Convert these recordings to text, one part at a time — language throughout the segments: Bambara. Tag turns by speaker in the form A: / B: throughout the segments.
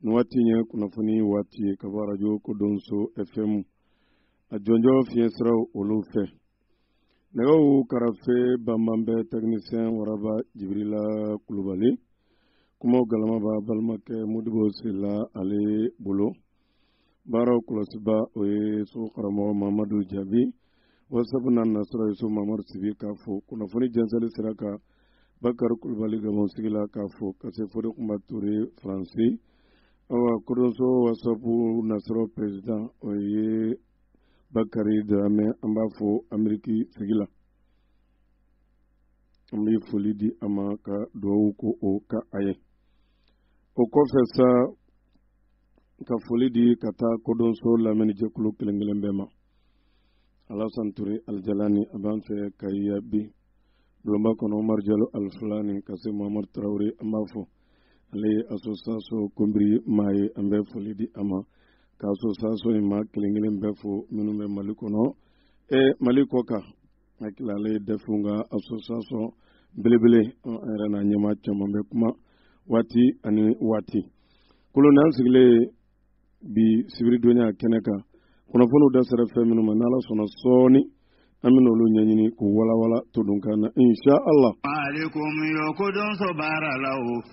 A: nin waati in ye kunnafoni waati ye ka bɔ arajo kodɔnso fm a jɔnjɔn fiɲɛ siraw olu fɛ nɛgɛw karafe banban bɛ tɛkinisiyɛn waraba jibirila kulubali kumaw galama b'a balimakɛ modibo sila ale bolo baaraw kɔlɔsiba o ye so karamɔgɔ mamadu jaabi wasapu na nasira ye so mamadu sibi k'a fɔ kunnafoni jɛnsɛli sira kan bakari kulubali gabɔn sigi la k'a fɔ ka se fode kunba ture faransi awa kodɔnso wasapu nasira perezidan o ye bakari daramɛ an b'a fɔ ameriki sigi la an bɛ foli di a ma ka dugawu ko o kɛ a ye o kɔfɛ sa ka foli di ka taa kodɔnso lamɛnnijɛkulu kelen kelen bɛɛ ma alasan ture alijalani a b'an fɛ ka iya bi bulonba kɔnɔ umaru jalo alifulani ka se muhamadu tarawele an b'a fɔ ale ye association konbiri maa ye an bɛ foli di a ma ka association in maa kelen kelen bɛɛ fo minnu bɛ mali kɔnɔ e mali kɔ kan hakili la ale ye dɛfɛnw ka association belebele an yɛrɛ n'a ɲɛmaa caman bɛ kuma waati ani waati kolon n'an sigilen bi sibiridonnya kɛnɛ kan kunnafoniw da sera fɛn minnu ma n'ala sɔnna sɔɔni an bɛna olu ɲɛɲini k'u walawala todunkan na insha allah. maaleykum yɔɔ
B: kodɔnso baara la o.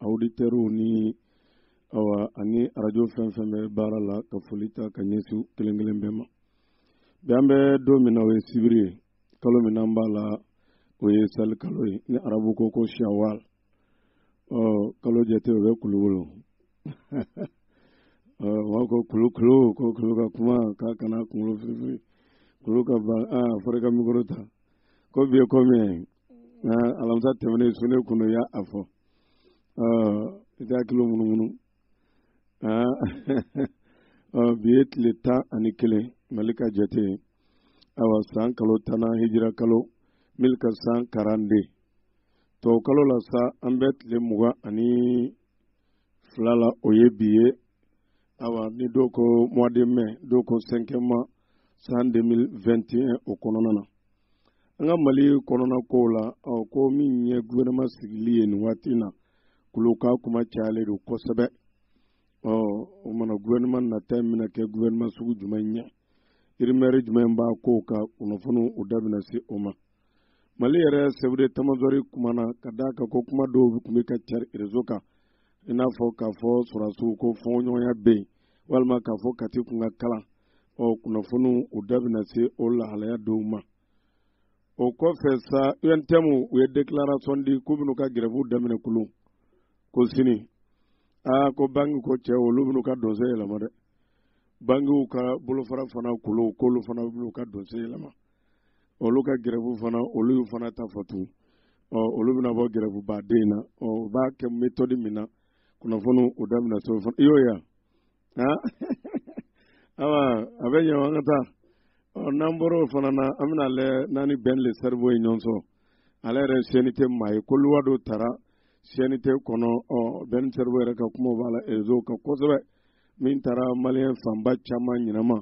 A: auditeurs ni awa ani arajo fɛn fɛn bɛ baara la ka foli ta ka ɲɛsin kelen kelen bɛɛ ma bi an bɛ don min na o ye sibiri kalo min n'an b'a la o ye seli kalo ye ni arabu ko ko shawal ɔ kalo jate o bɛ kulu wolo ɔ wa ko kulu kulu ko kulu ka kuma k'a kana kunkolo firifiri kulu ka ban aa fɔra i ka mikoro ta ko bi ye ko min ye alamisa tɛmɛnen su ne kɔni y'a a fɔ i tɛ hakili munumunu bi ye tile tan ani kelen mali ka jate ye awa san kalo tannan hijira kalo mille quatre cent quarante-deux tɔw kalo la sa an bɛ tile mugan ani fila la o ye bi ye awa ni dɔw ko mois de mai dɔw ko cinquième mois san 2021 o kɔnɔna na an ka mali kɔnɔna kow la ɔ ko min ye gouvernement sigili ye nin waati na kulo ka kuma cayalen don kosɛbɛ ɔ o mana gouvernement nata in bɛna kɛ gouvernement sugu jumɛn ye rumeur jumɛn b'a kow kan kunnafoniw u da bɛna se o ma mali yɛrɛ sɛfu detamazɔri kumana ka da a kan ko kuma dɔw tun bɛ ka cari rezo kan i n'a fɔ k'a fɔ sɔrɔdasiw ko fɔɲɔgɔnya bɛ yen walima k'a fɔ kati kun ka kalan ɔ kunnafoniw u da bɛna se o lahalaya dɔw ma o kɔfɛ sa untm u ye declaration di k'u bɛn'u ka gɛrɛfuw daminɛ kulu ko sini aa ko banki ko cɛ olu bɛn'u ka dɔnsen yɛlɛma dɛ bankiw ka bolofara fana kulu k'olu fana bɛn'u ka dɔnsen yɛlɛma olu ka gɛrɛfu fana olu y'u fana ta fɔ tun ɔ olu bɛna bɔ gɛrɛfu baden na ɔ u b'a kɛ metɔdi min na kunnafoni u da bɛna se o fana i y'o ye aa awa a bɛ ɲɛ an ka taa ɔ n'an bɔra o fana na an bɛna lɛ n'an ni bɛn le sɛriwo ye ɲɔgɔn sɔrɔ ale yɛrɛ cnt maa ye ko luwa dɔ tara cnt kɔnɔ ɔ bɛn sɛriwo yɛrɛ ka kumaw b'a la rezo kan kosɛbɛ min taara maliyɛn fanba caman ɲinama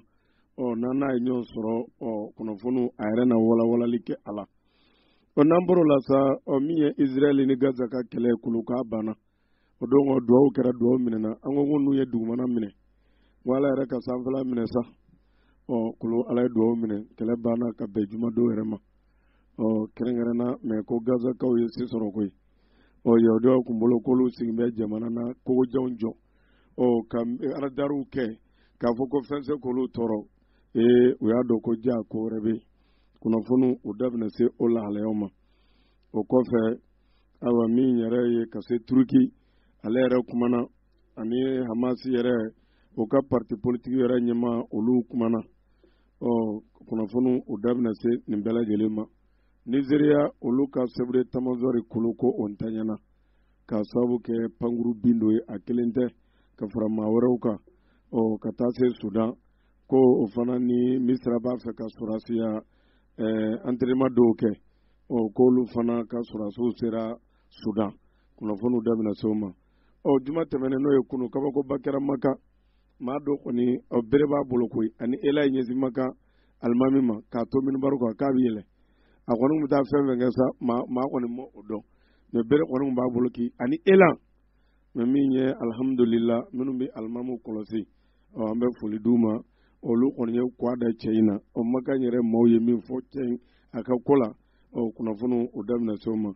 A: ɔ n'an n'a ye ɲɔgɔn sɔrɔ ɔ kunnafoniw a yɛrɛ na walawalali kɛ a la ɔ n'an bɔr'o la sa ɔ min ye israɛli ni gaza ka kɛlɛ kulu k'a banna o don ko duwawu kɛra duwawu minɛna an ko ko n'u ye dugumana minɛ wa ala yɛrɛ ka sanfɛla minɛ sa ɔ kulu ala ye duwawu minɛ kɛlɛ banna ka bɛn jumadon yɛrɛ ma ɔ kɛrɛnkɛrɛnna mɛ ko gazakaw ye se sɔrɔ koyi ɔ yahudiyaw kun bolo k'olu sigin bɛ jamana na kogojanw jɔ ɔ ka aradariw kɛ k'a fɔ ko fɛn se k'olu tɔɔrɔ ee u y'a dɔn ko jaa ko wɛrɛ bɛ yen kunnafoni u da bɛna se o lahalayaw ma o kɔfɛ ayiwa min yɛrɛ ye ka se turuki ale yɛrɛ kumana ani hamasi yɛrɛ o ka parti politiki yɛrɛ ɲɛmaa olu kumana ɔ kunnafoni u da bɛna se nin bɛɛ lajɛlen ma nizeriya olu ka sɛfu detamazɔri kulu ko o ntanyana ka sababu kɛ pankurun bin dɔ ye a kelen tɛ ka fara maa wɛrɛw kan ɔ ka taa se sudan ko o fana ni misira b'a fɛ ka sɔrɔsiya ɛɛ eh, antɛrɛnɛman dɔw kɛ ɔ k'olu fana ka sɔrɔsiw sera sudan kunnafoniw da bɛna se o ma ɔ juma tɛmɛnen n'o ye kunun kabakoba kɛra maka maa dɔ kɔni ɔ bere b'a bolo koyi ani elan y'i ɲɛsin maka alimami ma k'a to minbari kan k'a bɛ yɛlɛ a kɔni bɛ taa fɛn fɛn kɛ sa maa maa kɔni ma o dɔn mɛ bere kɔni b'a bolo koyi ani elan mɛ min ye alihamudulila minnu bɛ alimamu kɔlɔsi ɔ an bɛ foli d'u ma olu kɔni ye kwa da cɛ in na ɔ maka yɛrɛ maaw ye min fɔ cɛ in a ka ko la ɔ kunnafoni u da bɛna se o ma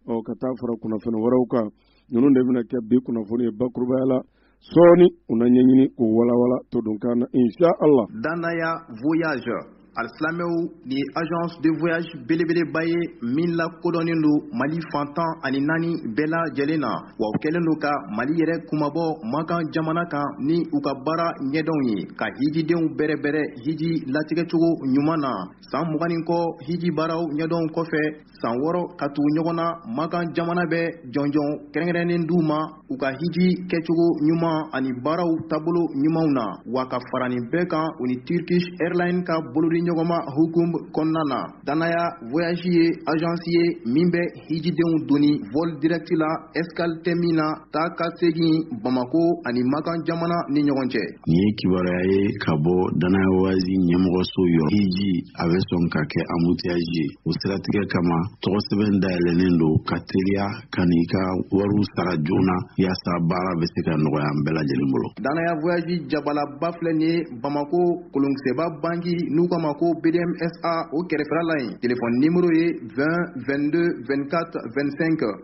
A: ɔ ka taa fara kunnafoni wɛrɛw kan ninnu de bɛna kɛ bi kunnafoni ye bakurubaya la sɔɔni u na ɲɛɲini k'o walawala todunkan na insha allah
C: dannaya voyage alisilamɛw nin ye agence de voyage belebeleba ye min lakodɔnnen don mali fan tan ani naani bɛɛ lajɛlen na wa u kɛlen don ka mali yɛrɛ kunmabɔ makan jamana kan ni u ka baara ɲɛdɔnw ye ka hijidenw bɛrɛbɛrɛ hiji latigɛcogo ɲuman na san mugan ni kɔ hiji baaraw ɲɛdɔn kɔfɛ san wɔɔrɔ ka tugu ɲɔgɔn na makan jamana bɛ jɔnjɔn kɛrɛnkɛrɛnnen d'u ma u ka hiji kɛcogo ɲuman ani baaraw taabolo ɲumanw na wa ka fara nin bɛɛ kan u ni turkish airline ka bolodiɲɔgɔnma hukum kɔnɔna na dannaya voyage ye agence ye min bɛ hijidenw doni vol direct la escale tɛ min na taa ka segin bamako ani makan jamana ni ɲɔgɔn cɛ Nin ye kibaruya
D: ye ka bɔ dannaya voyage ɲɛmɔgɔso yɔrɔ hiji a bɛ sɔn ka kɛ embouteillage ye o siratigɛ kama tɔgɔ sɛbɛn dayɛlɛnnen don ka teliya ka n'i ka wariw sara joona yaasa baara bɛ se ka nɔgɔya an bɛɛ lajɛlen bolo dannaya
C: voyage jabalaba filɛ nin ye bamako kolonkisɛba banki n'u k'a ma ko bdmsa o kɛrɛfɛla la yen telefɔni nimero ye 20 22 24 25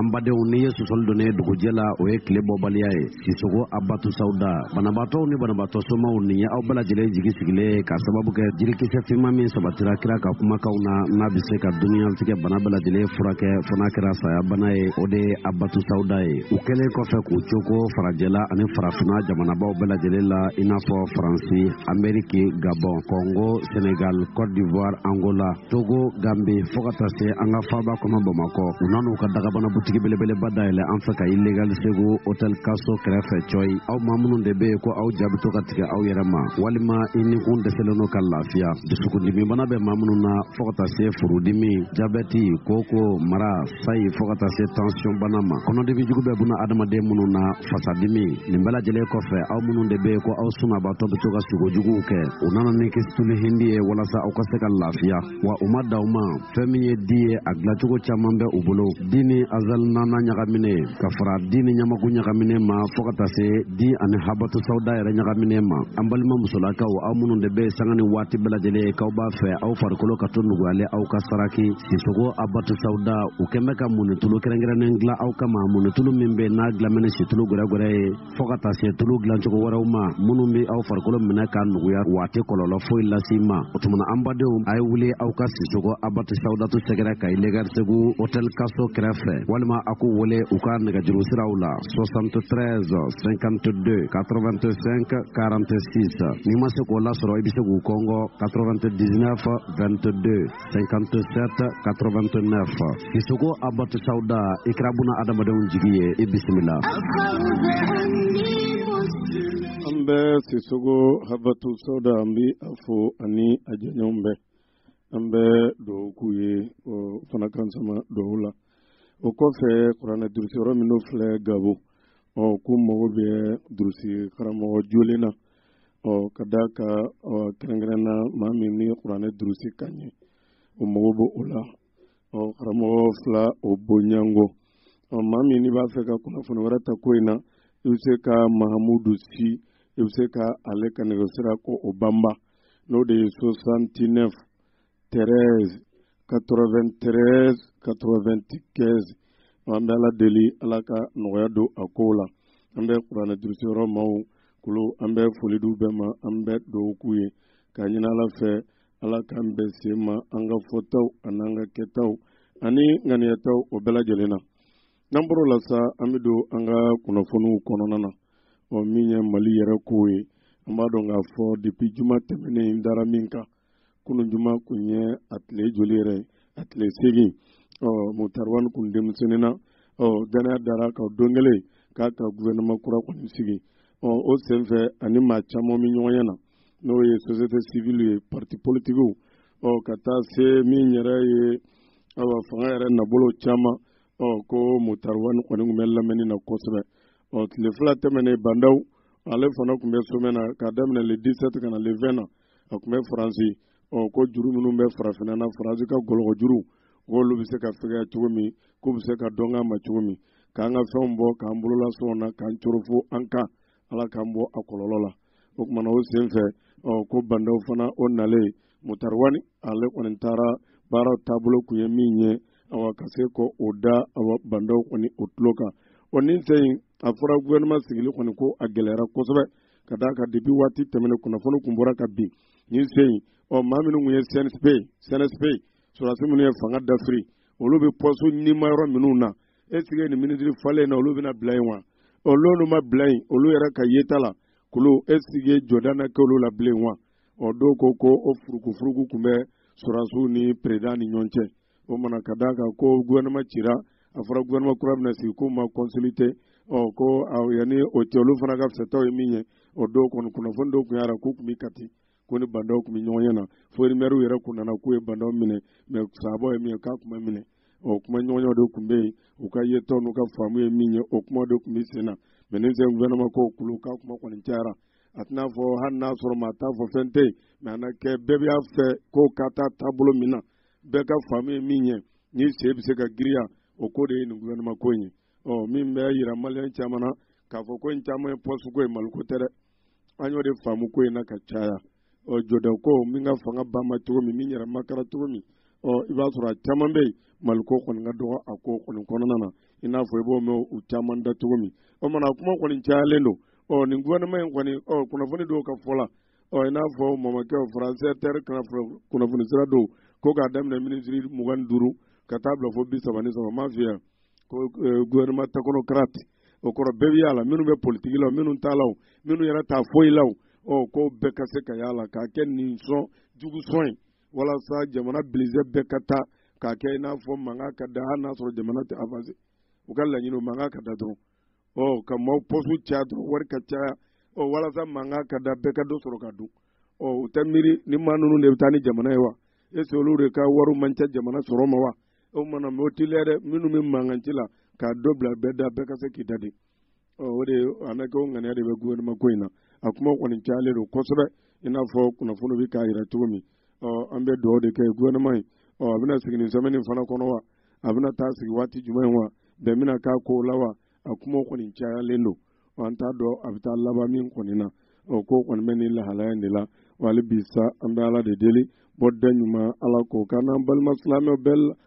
E: An badenw n'i ye sɔsɔli donnen dugujɛ la o ye tile bɔbaliya ye sisoko abatu sawuda banabaatɔw ni banabaatɔ somaw nin ye aw bɛɛ lajɛlen jigi sigilen ye k'a sababu kɛ jirikisɛ finman min sabatira kira ka kumakanw na n'a bɛ se ka duniyatigɛ bana bɛɛ lajɛlen furakɛ fo n'a kɛra saya bana ye o de ye abatu sawuda ye u kɛlen kɔfɛ k'u cooko farajɛla ani farafinna jamanabaw bɛɛ lajɛlen la i n'a fɔ faransi ameriki gabɔn kɔngo senegal cote d'ivoire angola togo gambe fɔɔ ka taa se an ka faaba kɔnɔ bamakɔ u nan'u ka dagabana butigi belebeleba dayɛlɛ an fɛ kayi legal segu hotel kaso kɛrɛfɛ cɔyi aw maa minnu de bɛ yen ko aw ja bɛ to ka tigɛ aw yɛrɛ ma walima i nikun dɛsɛlen no ka lafiya dusukundimibana bɛ maa minnu na fɔɔ ka taa se furudimi jabɛti kooko mara sayi fɔɔ ka taa se tansiyɔnbana ma kɔnɔdimi jugu bɛ buna adamaden minnu na fasadimi nin bɛɛ lajɛlen kɔfɛ aw minnu de bɛ yen ko aw sunabaatɔ bɛ to ka sugo juguw kɛ u nana ni kisituli hindi ye walasa aw ka se ka lafiya wa u ma dan o ma fɛn min ye di ye a dilacogo caman bɛ u bolo di ni azal nana ɲagamine ka fara di ni ɲamaku ɲagamine ma fɔɔ ka taa se di ani habatu sawuda yɛrɛ ɲagamine ma an balima musolakaw aw minnu de bɛ sanga ni waati bɛɛ lajɛlen k'aw b'a fɛ aw farikolo ka to nuguyalen aw ka saraki Sisoko abatu sawuda u kɛlen bɛ ka muntulu kɛrɛnkɛrɛnnen dilan aw kama muntulu min bɛ n'a dilannen ni situlu gɛrɛgɛrɛ ye fɔ ka taa se tulu dilancogo wɛrɛw ma minnu bɛ aw farikolo minɛ k'a nuguya wa a tɛ kɔlɔlɔ foyi lase i ma o tuma an badenw a ye wuli aw ka sisoko abatu sawudatu sɛgɛrɛ kayi legal segu hotel kaso kɛrɛfɛ walima a k'u wele u ka nɛgɛjuru siraw la 73 52 85 46 n'i ma se k'o lasɔrɔ i bɛ se k'u kɔngɔ 99 22 57 89 Sisoko Abatu Sauda i kɛra buna adamadenw jigi ye i bisimila an bɛ
A: Sisoko Abatu Sauda an bi a fo ani a jɛɲɔgɔn bɛɛ an bɛ dugawu k'u ye o fana k'an sama dugawu la o kɔfɛ kuranɛ durusi yɔrɔ minnu filɛ Gabo ɔ ko mago bɛ durusi karamɔgɔ jɔlen na ɔ ka d'a kan kɛrɛnkɛrɛn na maa min ni kuranɛ durusi ka ɲɛ o mago b'o o la ɔ karamɔgɔ fila o bonyango ɔ maa min n'i b'a fɛ ka kunnafoni wɛrɛ ta ko in na i bɛ se ka mahamudu si i bɛ se ka ale ka nɛgɛsira ko o banba n'o de ye 69 13 93 95 an bɛ ala deli ala ka nɔgɔya don a ko la an bɛ kuranɛ durusiyɔrɔ maw kulu an bɛ foli d'u bɛɛ ma an bɛ dugawu k'u ye ka ɲini ala fɛ ala k'an bɛn sen ma an ka fɔtaw an'an ka kɛtaw ani ŋaniyataw o bɛɛ lajɛlen na n'an bɔr'o la sa an bɛ don an ka kunnafoniw kɔnɔna na ɔ min ye mali yɛrɛ kow ye an b'a dɔn k'a fɔ depuis juma tɛmɛnen in dara min kan kunun juma kun ye a tile joli yɛrɛ a tile seegin ɔ Mutari Wani kun demisiyɔnena ɔ dannaya dara a kan don kelen k'a ka guvɛrɛnɛman kura kɔni sigi ɔ o senfɛ ani maa caman bɛ ɲɔgɔnye na n'o ye sosiyete sivili ye parti politikiw ɔ ka taa se min yɛrɛ ye awa fanga yɛrɛ na bolo caman ɔ ko Mutari Wani kɔni kun bɛ lamɛnni na kosɛbɛ ɔ tile fila tɛmɛnen Ba Ndaw ale fana kun bɛ somɛ na k'a daminɛ le 17 ka na le 20 na a kun bɛ faransi ɔ ko juru minnu bɛ farafinna na faransi ka gɔlɔgɔ juru k'olu bɛ se ka fɛgɛya cogo min k'u bɛ se ka dɔn k'a ma cogo min k'an ka fɛnw bɔ k'an bolola sɔngɔ na k'an coron fo an kan ala k'an bɔ a kɔlɔlɔ la o tuma na o sen fɛ ɔ ko Ba Ndaw fana o nalen Mutari Wani ale kɔni taara baara taabolo kun ye min ye awa ka se k'o da awa Ba Ndaw kɔni o tulo kan o nin sen in a fɔra guvɛrɛnɛman sigili kɔni ko a gɛlɛyara kosɛbɛ ka d'a kan depi waati tɛmɛnen kunnafoni kun bɔra ka bin nin sen in ɔ maa minnu kun ye cnsp sɔrɔdasi minnu ye fanga dafiri olu bɛ pɔsu ɲinima yɔrɔ minnu na est ce que nin minisiri falen na olu bɛna bila yen wa ɔ n'olu ma bila yen olu yɛrɛ ka yeta la kulu est ce que jɔda na kɛ olu la bilen wa ɔ dɔw ko ko o furukufuruku kun bɛ sɔrɔdasiw ni peresidan ni ɲɔgɔn cɛ o mana ka d'a kan ko gouvernement cira a fɔra gouvernement kura bɛna sigi k'u ma consulté ɔ ko yanni o cɛ olu fana ka fɛtaw ye min ye o don kɔni kunnafoni dɔw kun y'a yira k'u kun bɛ kati k'u ni bandaw kun bɛ ɲɔgɔn ɲɛ na fo rimɛriw yɛrɛ kun nana k'u ye bandaw minɛ mɛ sababu ye min ye k'a kun ma minɛ o kumaɲɔgɔnya de kun bɛ yen u ka yetaw n'u ka faamu ye min ye o kuma de kun bɛ sen na mɛ ni sɛ gouvernement ko kulu k'a kuma kɔni cayara a tɛna fɔ hali n'a sɔrɔ maa t'a fɔ fɛn tɛ yen mɛ a na kɛ bɛɛ b'a fɛ ko ka taa taabolo min na bɛɛ ka faamu ye min ye ni se bɛ se ka giriya o ko de ye nin gouvernement ko in ye ɔ min bɛ yira maliyɛn caman na k'a fɔ ko in caman ye pɔsi ko ye maliko tɛ dɛ an y'o de faamu ko in na ka caya ɔ jɔda ko min ka fanga ba ma cogo min min yɛrɛ makara cogo min ɔ i b'a sɔrɔ a caman bɛ yen maliko kɔni ka dɔgɔ a ko kɔni kɔnɔna na i n'a fɔ i b'o mɛn u caman da cogo min o mana kuma kɔni cayalen don ɔ nin gouvernement in kɔni ɔ kunnafoni dɔw ka fɔ la ɔ i n'a fɔ mamakɛw france inter kunnafoni sira don ko k'a daminɛ minisiri mugan ni duuru ka taa bila fo bi saba ni saba m'a f'i ye ko eh, gouvernement technocrate o kɔrɔ bɛɛ bɛ y'a la minnu bɛ politiki la minnu t'a la minnu yɛrɛ t'a foyi la ɔ ko bɛɛ ka se ka y'a la k'a kɛ ɲin sɔn jugu sɔn ye walasa jamana budget bɛɛ ka taa k'a kɛ i n'a fɔ mankan ka da hali n'a sɔrɔ jamana tɛ avanse u ka laɲini mankan ka da dɔrɔn ɔ ka maaw pɔsu caya dɔrɔn wari ka caya ɔ walasa mankan ka da bɛɛ ka dɔ sɔrɔ ka dun ɔ u tɛ miiri ni maa ninnu de bɛ taa ni jamana ye wa est-ce olu de ka wariw man ca jamana sɔrɔ ma wa o mana mɛ o tɛ lɛ dɛ minnu bɛ mankan ci la ka dɔ bila bɛɛ da bɛɛ ka se k'i da de ɔ o de a na kɛ o ŋaniya de bɛ gouvernement ko in na a kuma kɔni cayalen don kosɛbɛ i n'a fɔ kunnafoni bɛ k'a yira cogo min ɔ an bɛ dugawu de kɛ gouvernement ye ɔ a bɛna sigi nin semaine fana kɔnɔ wa a bɛna taa sigi waati jumɛn in wa bɛn bɛna k'a ko la wa a kumaw kɔni cayalen don an t'a dɔn a bɛ taa laban min kɔni na ɔ ko kɔni bɛ nin lahalaya in de la wa hali bi sa an bɛ ala de deli bɔda ɲuman ala k'o k'an n'an balima silamɛw bɛɛ la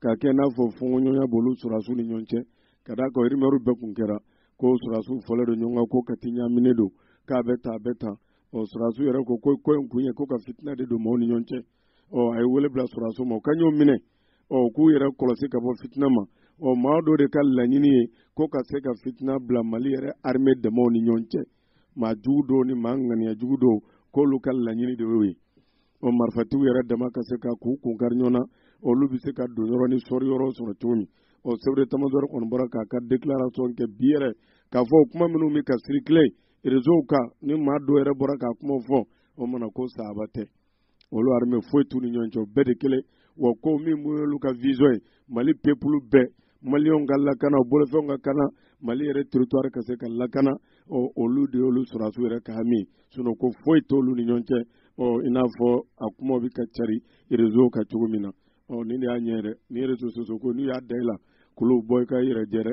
A: ka kɛ n'a fɔ fɔɲɔgɔnya b'olu sɔrɔsiw ni ɲɔgɔn cɛ ka d'a kan rimɛri bɛɛ kun kɛra ko sɔrɔsiw fɔlen don ɲɔgɔn kan ko kati ɲaminen don k'a bɛ tan a bɛ tan ɔ sɔrɔsiw yɛrɛ ko ko ko in kun ye ko ka fitina de don maaw ni ɲɔgɔn cɛ ɔ a ye wele bila sɔrɔsiw ma u ka ɲɔgɔn minɛ ɔ k'u yɛrɛ kɔlɔsi ka bɔ fitina ma ɔ maa dɔ de ka laɲini ye ko ka se ka fitina bila mali yɛrɛ arime damaw ni ɲɔgɔn cɛ maa jugu dɔw ni maa ŋaniya jugu dɔw k'olu ka laɲini de y'o ye o marifatigiw yɛrɛ dama ka se ka k'u kun kari ɲɔgɔn na olu bɛ se ka don yɔrɔ ni sɔri yɔrɔ sɔrɔ cogo min o chef d'état-major kɔni bɔra k'a ka déclaration kɛ bi yɛrɛ k'a fɔ kuma minnu bɛ ka circuler réseau kan ni maa dɔw yɛrɛ bɔra k'a kuma fɔ o mana ko sahaba tɛ olu armée foyi t'u ni ɲɔgɔn cɛ o bɛɛ de kelen wa ko min y'olu ka vision ye mali pepulu bɛɛ maliyɛnw ka lakana o bolofɛnw ka kana mali yɛrɛ territoire ka se ka lakana ɔ olu de y'olu sɔrɔdasiw yɛrɛ ka hami sinɔn ko foyi t'olu ni ɲɔgɔn cɛ ɔ i n'a fɔ a kumaw bɛ ka cari réseau kan cogo min na ɔ nin de y'a ɲɛ yɛrɛ ni réseau sociaux ko n'u y'a da i la k'olu bɔ i ka yɛrɛ jɛ dɛ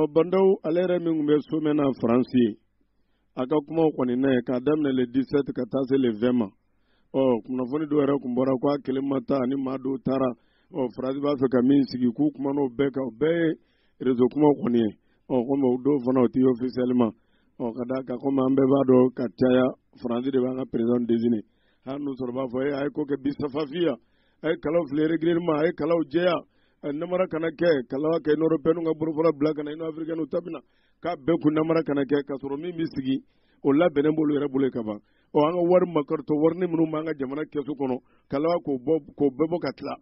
F: ɔ ba ndaw ale yɛrɛ
A: min tun bɛ sommet na faransi yen a ka kumaw kɔni n'a ye k'a daminɛ le 17 ka taa se le 20 ma ɔ kunnafoni dɔw yɛrɛ tun bɔra ko a kelen ma taa ani maa dɔw taara ɔ faransi b'a fɛ ka min sigi k'u kuman'o bɛɛ kan o bɛɛ ye rezo kumaw kɔni ye ɔ komi o dɔw fana o tɛ officiellement ɔ ka d'a kan komi an bɛɛ b'a dɔn ka caya faransi de b'an ka président désigner hali n'u sɔrɔ b'a fɔ e a ye ko kɛ bi safafiya a ye kalaw fili régulièrement a ye kalaw jɛya namara kana kɛ kala kɛ union européenne ka bolofara bila ka na union africaine ta bɛ na k'a bɛɛ kun namara kana kɛ k'a sɔrɔ min bɛ sigi o labɛnnen b'olu yɛrɛ bolo ka ban ɔ an ka wari makaritɔ warini minnu b'an ka jamana kɛsu kɔnɔ ka laban k'o bɔ k'o bɛɛ bɔ ka tila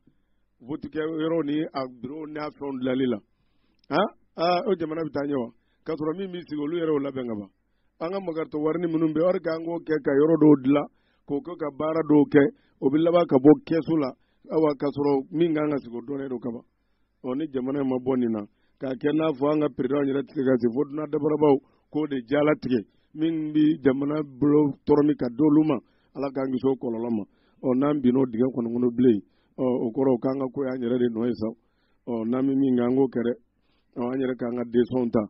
A: votikɛ yɔrɔw ni a biro n'a fɛnw dilali la o jamana bɛ taa ɲɛ wa k'a sɔrɔ min bɛ sigi olu yɛrɛ y'o labɛn ka ban an ka makaritɔ warini minnu bɛ wari k'an k'o kɛ ka yɔrɔ dɔw dilan k'o kɛ ka baara dɔw kɛ o bɛ laban ka bɔ kɛsu la awa k'a sɔrɔ min kan ka sigi o dɔnnen don kaban ɔ ni jamana in ma bɔ nin na k'a kɛ n'a fɔ an ka perezidanw yɛrɛ tigɛ ka se fo dunan dabarabaw k'o de jalatigɛ min bɛ jamana bolo tɔrɔmi ka d'olu ma ala k'an kisi o kɔlɔlɔ ma ɔ n'an binna o dingɛ kɔnɔ kɔnɔ bilen ɔ o kɔrɔ o k'an ka ko y'an yɛrɛ de nɔ ye sa ɔ n'an bɛ min kɛ an k'o kɛ dɛ ɔ an yɛrɛ k'an ka desizɔnw ta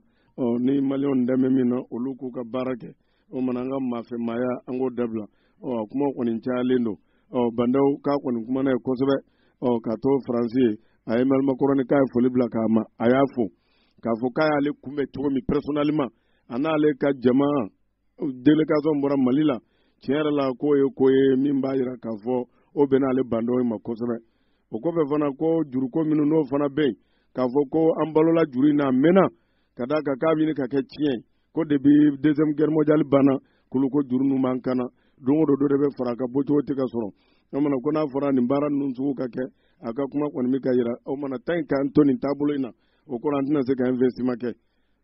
A: ɔ ni maliyɛnw dɛmɛ min na olu k'u ka baara kɛ o mana an ka maafɛmaaya an k'o dabila ɔ a kuma kɔni cayalen don ɔ ba ndaw k'a kɔni kumana yen kosɛbɛ ɔ ka to faransi yen a ye emanuɛli makɔrɔni k'a ye foli bila k'a ma a y'a fo k'a fɔ k'a y'ale kunbɛn cogo min personnellement a n'ale ka jama délégation bɔra mali la tiɲɛ yɛrɛ la k'o ye ko ye min b'a yira k'a fɔ o bɛnna ale ba ndaw ma kosɛbɛ o kɔfɛ fana ko juruko minnu n'o fana bɛ yen k'a fɔ ko an balola juru in na a mɛnna ka d'a kan k'a bɛ ka kɛ tiɲɛ ye ko depuis deuxième guerre mondiale banna k'olu ko juru ninnu b'an kan na don o don dɔ de bɛ fara a ka bɔcogo tɛ ka sɔrɔ o mana ko n'a fɔra nin baara ninnu sugu ka kɛ a ka kuma kɔni bɛ ka yira o mana tanki an to nin taabolo in na o kɔrɔ an tɛna se ka investissement kɛ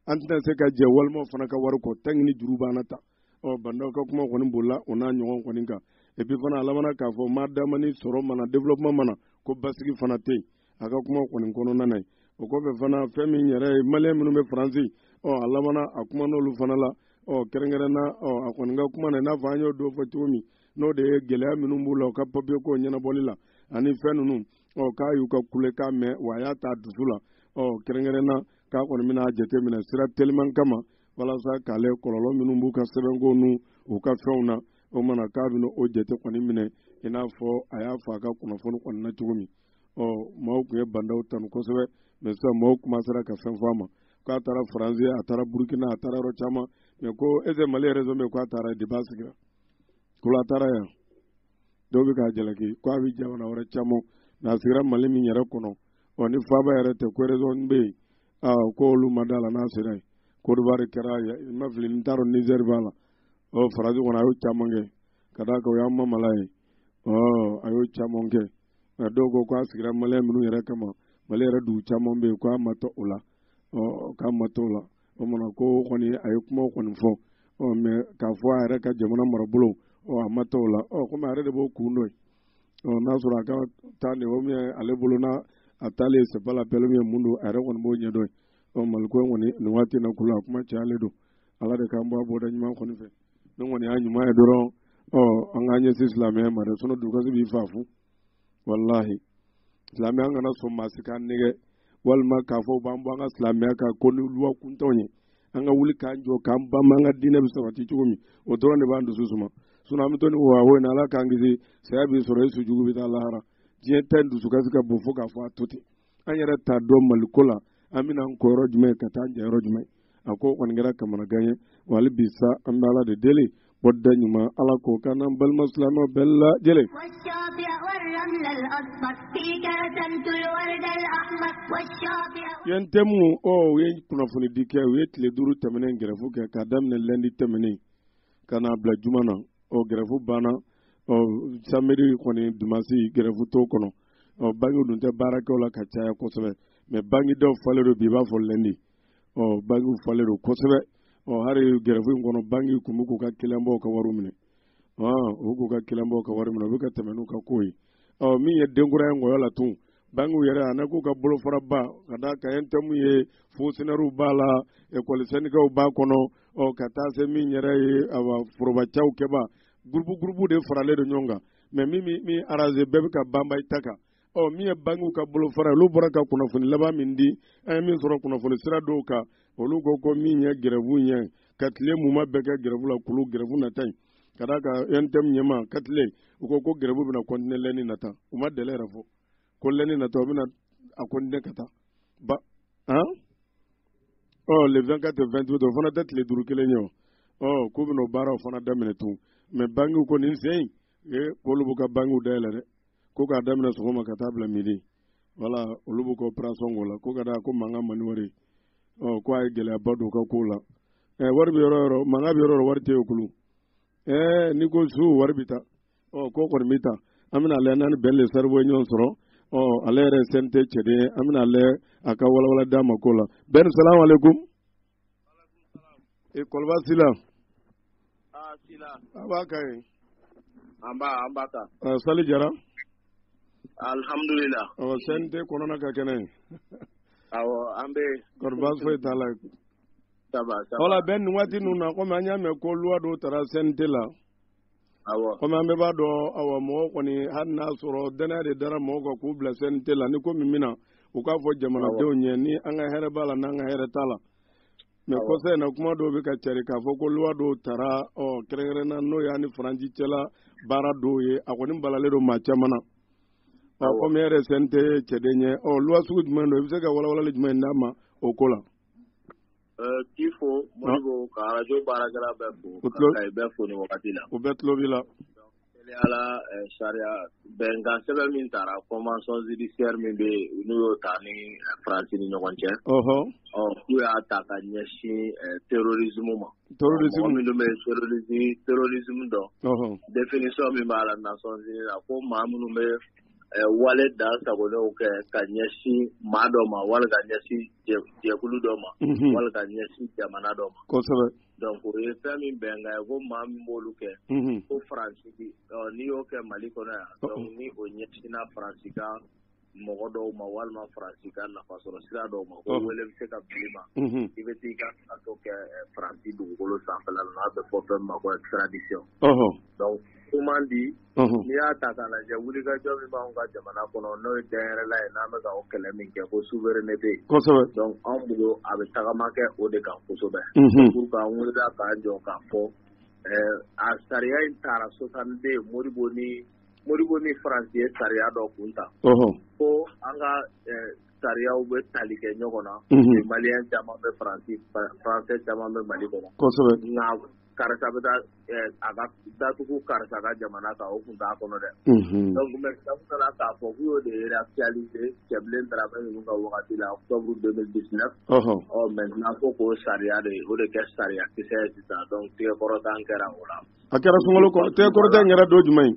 A: an tɛna se ka jɛn walimaaw fana ka wari kɔ tanki ni juru b'an na tan ɔ ba ndaw ka kuma kɔni bolila o n'a ɲɔgɔn kɔni kan epi fana a labanna k'a fɔ madama ni sɔrɔ ma na développement ma na ko basigi fana tɛ yen a ka kuma kɔni kɔnɔna na yen o kɔfɛ fana fɛn min yɛrɛ ye maliyɛn minnu bɛ faransi ɔ a labanna a kuman'olu fana la ɔ kɛrɛnkɛrɛnna ɔ a kɔni ka kuma na i n'a fɔ an y'o dɔ fɔ cogo min n'o de ye gɛlɛya minnu b'u la u ka papiye ko ɲɛnabɔli la ani fɛn ninnu ɔ k'a y'u ka kulekan mɛn wa a y'a ta dusu la ɔ kɛrɛnkɛrɛnna k'a kɔni bɛna jateminɛ sira teliman kama walasa k'ale kɔlɔlɔ minnu b'u ka sɛbɛnko n'u u ka fɛnw na o mana k'a bɛna o jate kɔni minɛ i n'a fɔ a y'a fɔ a ka kunnafoni kɔni na cogo min ɔ maaw tun ye ba ndaw tanu kosɛbɛ mɛ sisan maaw komansera ka fɛn fɔ a ma k'a taara faransi a taara burukina a taara yɔrɔ caman mɛ ko ese mali rezɔn bɛ k'a taara deba sigira ko a taara yan dɔw bɛ k'a jalaki ko a bɛ jamana wɛrɛ caman n'a sigira mali min yɛrɛ kɔnɔ ɔ ni faaba yɛrɛ tɛ ko rezɔn bɛ yen aa ko olu ma d'a la n'a sera yen kodowari kɛra n ma fili n t'a dɔn nizɛri b'a la ɔ faransi kɔnɔ a y'o caman kɛ ka d'a kan o y'an mamala ye ɔ a y'o caman kɛ nka dɔw ko k'a sigira maliyɛn minnu yɛrɛ kama mali yɛrɛ dugu caman bɛ yen k'a ma taa o la ɔ k'a ma taa o la o mana ko kɔni a ye kuma kɔni fɔ ɔ mɛ k'a fɔ a yɛrɛ ka jamana marabolo ɔ a ma taa o la ɔ komi a yɛrɛ de b'o kun dɔn ye ɔ n'a sɔrɔ a ka taa nin o min ale bolo n'a a taalen c'est pas la peine min ye mun don a yɛrɛ kɔni b'o ɲɛdɔn ye ɔ maliko in kɔni nin waati na kulu a kuma cayalen don ala de k'an bɔ a bɔda ɲuman kɔni fɛ ne kɔni y'a ɲuman ye dɔrɔn ɔ an k'an ɲɛsin silamɛya ma dɛ sinɔn dusukasi b'i faa fu walahi silamɛya an kana sɔn maa si k'an nɛgɛn walima k'a fɔ b'an bɔ an ka silamɛya kan ko ni luwa kuntanw ye an ka wuli k'an jɔ k'an banba an ka diinɛ bɛ sabati cogo min o dɔrɔn de b'an dusu suma sinɔn an bɛ to nin wawo in na ala k'an kisi saya b'i sɔrɔ i su jugu bɛ taa lahara diɲɛ ta in dusukasi ka bon fo k'a fɔ a to ten an yɛrɛ t'a dɔn maliko la an bɛna an ko yɔrɔ jumɛn ka taa an ja yɔrɔ jumɛn a ko kɔni kɛra kamanagan ye wa hali bi sa an bɛ ala de deli bɔda ɲuman ala k'o k'an n'an balima silamɛw bɛɛ lajɛlen ye ɛntɛmu ɔ u ye kunnafonidi kɛ u ye tile duuru tɛmɛnen gɛrɛfu kɛ k'a daminɛ lɛndi tɛmɛnen ka n'a bila juma na ɔ gɛrɛfu banna ɔ samedi kɔni dimansi gɛrɛfu t'o kɔnɔ ɔ bangiw dun tɛ baarakɛw la ka caya kosɛbɛ mɛ bangidaw falen don bi i b'a fɔ lɛndi ɔ bangiw falen don kosɛbɛ ɔ hali gɛrɛfu in kɔnɔ bangi kun bɛ k'u ka kiliyanbaw ka wari minɛ ɔ u k'u ka kiliyanbaw ka wari minɛ u bɛ ka tɛmɛ n'u ka ko ye ɔ min ye denkura ye ngɔyɔ la tun bangiw yɛrɛ ani k'u ka bolofaraba ka da ka ɛntɛmu ye fɔnkisɔnɛriw b'a la ekɔli sɛndikaw b'a kɔnɔ ɔ ka taa se min yɛrɛ ye awa forobacakɛbaa gurupu gurupu de faralen don ɲɔgɔn kan mɛ min min aranze bɛɛ bɛ ka banba i ta kan ɔ min ye bangiw ka bolofara ye olu bɔra ka kunnafoni laban min di an ye min sɔrɔ kunnafoni sira dɔw kan olu ko ko min ye gɛrɛfu ɲɛ ka tile muma bɛɛ kɛ gɛrɛfu la kulu gɛrɛfu nata in ka da ka ɛntɛmu ɲɛma ka tile u ko ko gɛrɛfu bɛna kɔntine lɛni nata u ma dele yɛrɛ fɔ ko lɛni natɔ a bɛna a continuer ka taa ba han ɔ le 24 et 28 o fana tɛ tile duuru kelen ye o ɔ k'u bɛna o baaraw fana daminɛ tun mɛ bankiw ko nin sen e k'olu b'u ka bankiw dayɛlɛ dɛ ko k'a daminɛ sɔgɔma ka taa bila midi wala olu b'u ka operation k'o la ko ka da ko mankan man di wari ɔ ko a ye gɛlɛyaba don u ka kow la ɛ wari bɛ yɔrɔ o yɔrɔ mankan bɛ yɔrɔ o yɔrɔ wari tɛ yen o kulu ɛɛ n'i ko su wari bɛ taa ɔ ko kɔni bɛ tan an bɛna lajɛ n'an ni bɛn le cerveau ye ɲɔgɔn sɔrɔ ɔ ale yɛrɛ ye CNT cɛden ye an bɛna lajɛ a ka walawala d'an ma ko la bɛn salamu aleykum e kɔlɔba sila ah, a b'a ka ye an
G: b'a an b'a ta ah, sali
A: jara
G: alihamudulila ɔ CNT
A: kɔnɔna ka kɛnɛ ye
G: awɔ an bɛ kɔni baasi foyi t'a
A: la
G: voilà bɛn nin
A: waati ninnu na komi an y'a mɛn ko loi dɔw tara CNT la kɔmi an bɛɛ b'a dɔn awa mɔgɔ kɔni hali n'a sɔrɔ dannaya de dara mɔgɔw kan k'u bila CNT la ni ko min bɛna u k'a fɔ jamanadenw ɲɛ ni an ka hɛrɛ b'a la n'an ka hɛrɛ t'a la mɛ kɔsa in na kuma dɔw bɛ ka cari k'a fɔ ko loi dɔw tara ɔ kɛrɛnkɛrɛnna n'o y'an ni faransi cɛla baara dɔw ye a kɔni balalen don maa caman na ɔ kɔmi e yɛrɛ CNT cɛden ye ɔ loi sugu jumɛn don i bɛ se ka walawalali jumɛn d'an ma o ko la
G: K'i fo modibo ka radio baarakɛla bɛɛ fo ka bɛɛ fo nin wagati la u bɛɛ
A: tulo b'i la voilà
G: sariya bɛnkan sɛbɛn min tara convention judiciaire min bɛ yen n'u y'o ta an ni faransi ni ɲɔgɔn cɛ ɔ k'u y'a ta ka ɲɛsin terrorisme ma mɔgɔ minnu bɛ terrorisme dɔn définition min b'a la Nations Unies la ko maa minnu bɛ wale dansagonnenw kɛ ka ɲɛsin maa dɔ ma wali ka ɲɛsin jɛkulu dɔ ma wali ka ɲɛsin jamana dɔ ma kosɛbɛ donc o
A: ye fɛn
G: min bɛnkan ye ko maa min b'olu kɛ ko faransi n'i y'o kɛ mali kɔnɔ yan donc ni o ɲɛsinna faransi ka mɔgɔ dɔw ma walima faransi ka nafa sɔrɔ sira dɔw ma ko wele bɛ se ka bil'i ma i bɛ t'i ka kaso kɛ faransi dugukolo sanfɛla n'a bɛ fɔ fɛn min ma ko extradition donc kuman di n'i y'a ta k'a lajɛ wulikajɔ min b'an ka jamana kɔnɔ n'o ye danyɛrɛla ye n'an bɛ ka o kɛlɛ min kɛ ko souveraineté donc anw bolo a bɛ tagama kɛ o de kan kosɛbɛ pour k'an wuli k'an jɔ k'a fɔ a sariya in tara 62 modibo ni modibo ni faransi ye sariya dɔ kun ta ko an ka sariyaw bɛ tali kɛ ɲɔgɔn na maliyɛn caman bɛ faransi faransɛ caman bɛ mali kɔnɔ karisa bɛ taa a ka datugu karisa ka jamana kan o tun t'a kɔnɔ dɛ donc k'a fɔ k'u y'o de réactualiser cɛbilen daramɛ ninnu ka wagati la octobre 2019 maintenant ko k'o sariya de o de kɛ sariya kisɛ ye sisan donc tigɛkɔrɔta kɛra o la a kɛra sun kɔrɔ
A: tigɛkɔrɔta yɛrɛ don jumɛn ye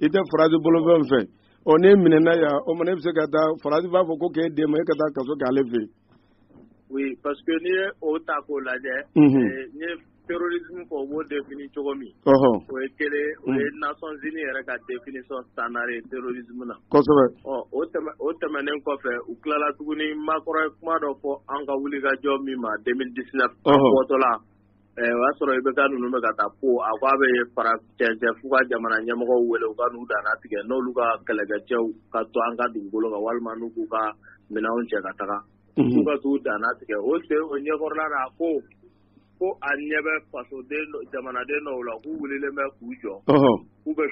A: i tɛ faransi bolofɛn fɛ ɔ n'e minɛna yan o ma ne bɛ se ka taa faransi b'a fɔ ko k'e d'a ma e ka taa kaso k'ale fɛ
G: yen. oui parce
A: que
G: n'i ye o ta k'o
A: lajɛ. n ye
G: terrorisme ko u b'o défini cogo min. o ye kelen o ye nations unies yɛrɛ ka définition standard ye terrorisme na. kosɛbɛ. ɔ
A: o tɛmɛ
G: o tɛmɛnen kɔfɛ u tilala tuguni macron ye kuma dɔ fɔ an ka wulikajɔ min ma 2019. an bɔtɔla. O y'a sɔrɔ IBK ninnu bɛ ka taa Pau a k' a bɛ fara cɛncɛn fuga jamana ɲɛmɔgɔw wele u ka n'u dannatigɛ n'olu ka kɛlɛkɛcɛw ka to an ka dugukolo kan walima n'u k'u ka minɛnw cɛ ka taga u ka t'u dannatigɛ o se o ɲɛkɔrɔla la ko ko a ɲɛ bɛ faso jamanaden dɔw la k'u wulilen bɛ k'u jɔ k'u bɛ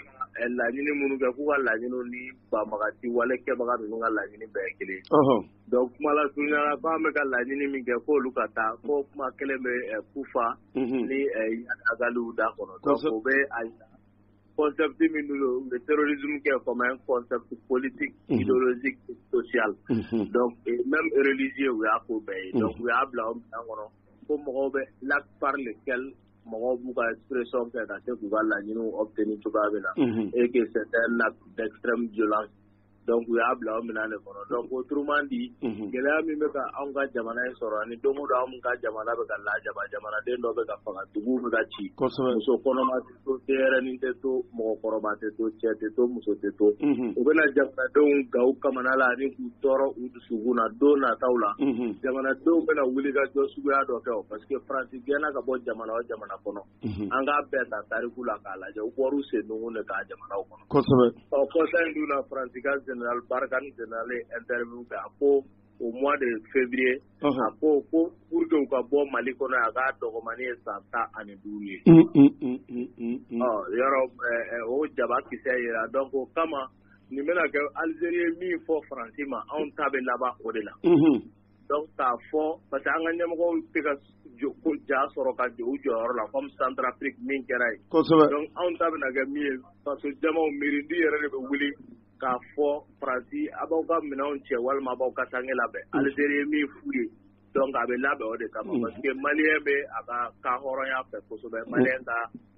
G: laɲini minnu kɛ k'u ka laɲini ni banbagaci wale kɛbaga ninnu ka laɲini bɛɛ kelen Don kumala surunyala k' an bɛ ka laɲini min kɛ ko olu ka taa ko kuma kelen bɛ kufa ni agali da kɔnɔ u bɛ asɛbute min bɛ triz kɛ fa kɔsɛbɛti politi si sosiya n bɛ relizi u y'a ko bɛɛ ye u y'a bila an kɔnɔ ko mɔgɔw bɛ lafari de kɛ mɔgɔw b'u ka sreson fɛ ka se k'u ka laɲini aw tɛ ni cogoya bɛ na e' la dɛsɛfɛ jo la donc u y'a bila o minɛn de kɔnɔ donc autrement dit unhun, gɛlɛya min bɛ ka anw ka jamana in sɔrɔ ani don o don anw ka jamana bɛ ka lajaba jamanaden dɔ bɛ ka faga duguw bɛ ka ci kosɛbɛ muso kɔnɔma tɛ to denyɛrɛnin tɛ to mɔgɔkɔrɔba tɛ to cɛ tɛ to muso tɛ to unhun, u bɛna jamanadenw gan kamana la ani k'u tɔɔrɔ u dusukun na don nataw la unhun, jamanadenw bɛna wulikajɔ suguya dɔ kɛ o parce que faransi gɛnna ka bɔ jamana o jamana kɔnɔ an k'a bɛɛ ta tariku la k'a lajɛ u bɔra u sennunkun de kan jamanaw kɔnɔ kosɛbɛ ɔ kɔsa in dun na faransi ka général barkhane général ye interview kɛ a ko au mois de février a ko ko pour que u ka bɔ mali kɔnɔ a k'a dɔgɔmannin ye san tan ani duuru ye ɔ yɔrɔ o jaba kisɛ yira donc o kama nin bɛna kɛ algérie ye min fɔ faransi ma anw ta bɛ laban o de la donc k'a fɔ parce que an ka ɲɛmɔgɔw tɛ ka ja sɔrɔ ka jɔ u jɔyɔrɔ la comme Centrafrique min kɛra yen, kosɛbɛ, donc anw ta bɛna kɛ min ye faso jamaw miiridi yɛrɛ de bɛ wuli k'a fɔ Faransi a b'aw ka minɛnw cɛ walima a b'aw kasanke labɛn mm. Algérie ye min f'u ye donc a bɛ labɛn o de kama mm. parce que Malien bɛ a ka ka hɔrɔnya fɛ kosɛbɛ mm. Malien ka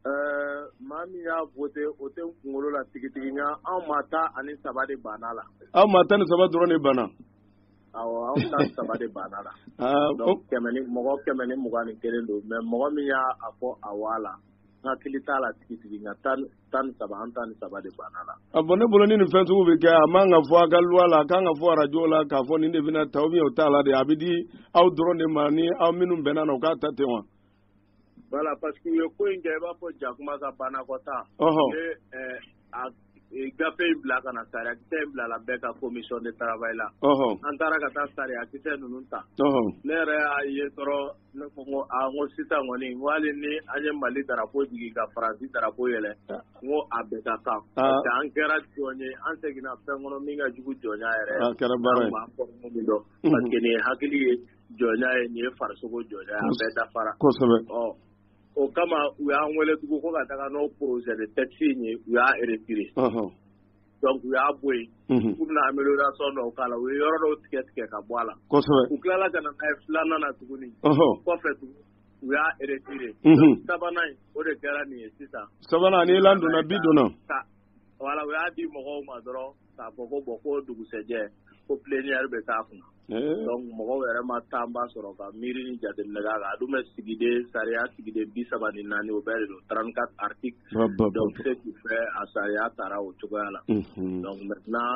G: Ɛɛ maa min y'a voté o tɛ n kunkolo la tigitigi nka anw maa tan ani saba de banna la. Aw maa tan ni saba
A: dɔrɔn de banna. Awɔ anw
G: maa tan ni saba de banna la. Aa o donc kɛmɛ ni mɔgɔ kɛmɛ ni mugan ni kelen don mais mɔgɔ min y'a fɔ awɔ a la n hakili t'a la tigitigi nka tan ni- tan ni saba an tan ni saba de banna la. bon ne bolo ni nin fɛn
A: sugu bɛ kɛ a man ka fɔ a ka loi la a kan ka fɔ arajo la k'a fɔ nin de bɛna ta ou bien o t'a la de a bɛ di aw dɔrɔn de ma ni aw minnu bɛnna na u k'a ta ten wa.
G: Voilà parce que u ye ko in kɛ i b'a fɔ jakuma ka banakɔta gafe in bila ka na sariya kisɛ in bila la bɛɛ ka commission de travail la an taara ka taa sariya kisɛ ninnu ta ne yɛrɛ y'a ye dɔrɔn ne ko ko ko sisan kɔni hali ni an ye mali drapeau jigin ka faransi drapeau yɛlɛ n ko a bɛɛ ka kan parce que an kɛra jɔn ye an seginna fɛn kɔnɔ min ka jugu jɔnya yɛrɛ ye an bɛ min dɔn parce que hakili ye jɔnya ye nin ye farisogo jɔnya ye a bɛɛ dafara kosɛbɛ o kama u y'an wele tugun ko ka taga n'o projet de texte ye u y'a retiré donc u y'a bɔ yen k'u bɛna amélioration dɔw k'a la u ye yɔrɔ dɔw tigɛ tigɛ ka bɔ a la u tilala ka na n'a ye filanan na tuguni kɔfɛ tugun u y'a retiré sabanan o de kɛra nin ye sisan sabanan ni donna
A: bi donna voilà
G: u y'a di mɔgɔw ma dɔrɔn k'a fɔ ko bon ko dugusɛjɛ ko plénière bɛ k'a kun na donc mɔgɔw yɛrɛ ma temps ba sɔrɔ ka miiri ni jateminɛ k'a kan a dun bɛ sigiden sariya sigiden bi saba ni naani o bɛɛ de don trente-quatre articles donc ce qui fait a sariya taara o cogoya la donc maintenant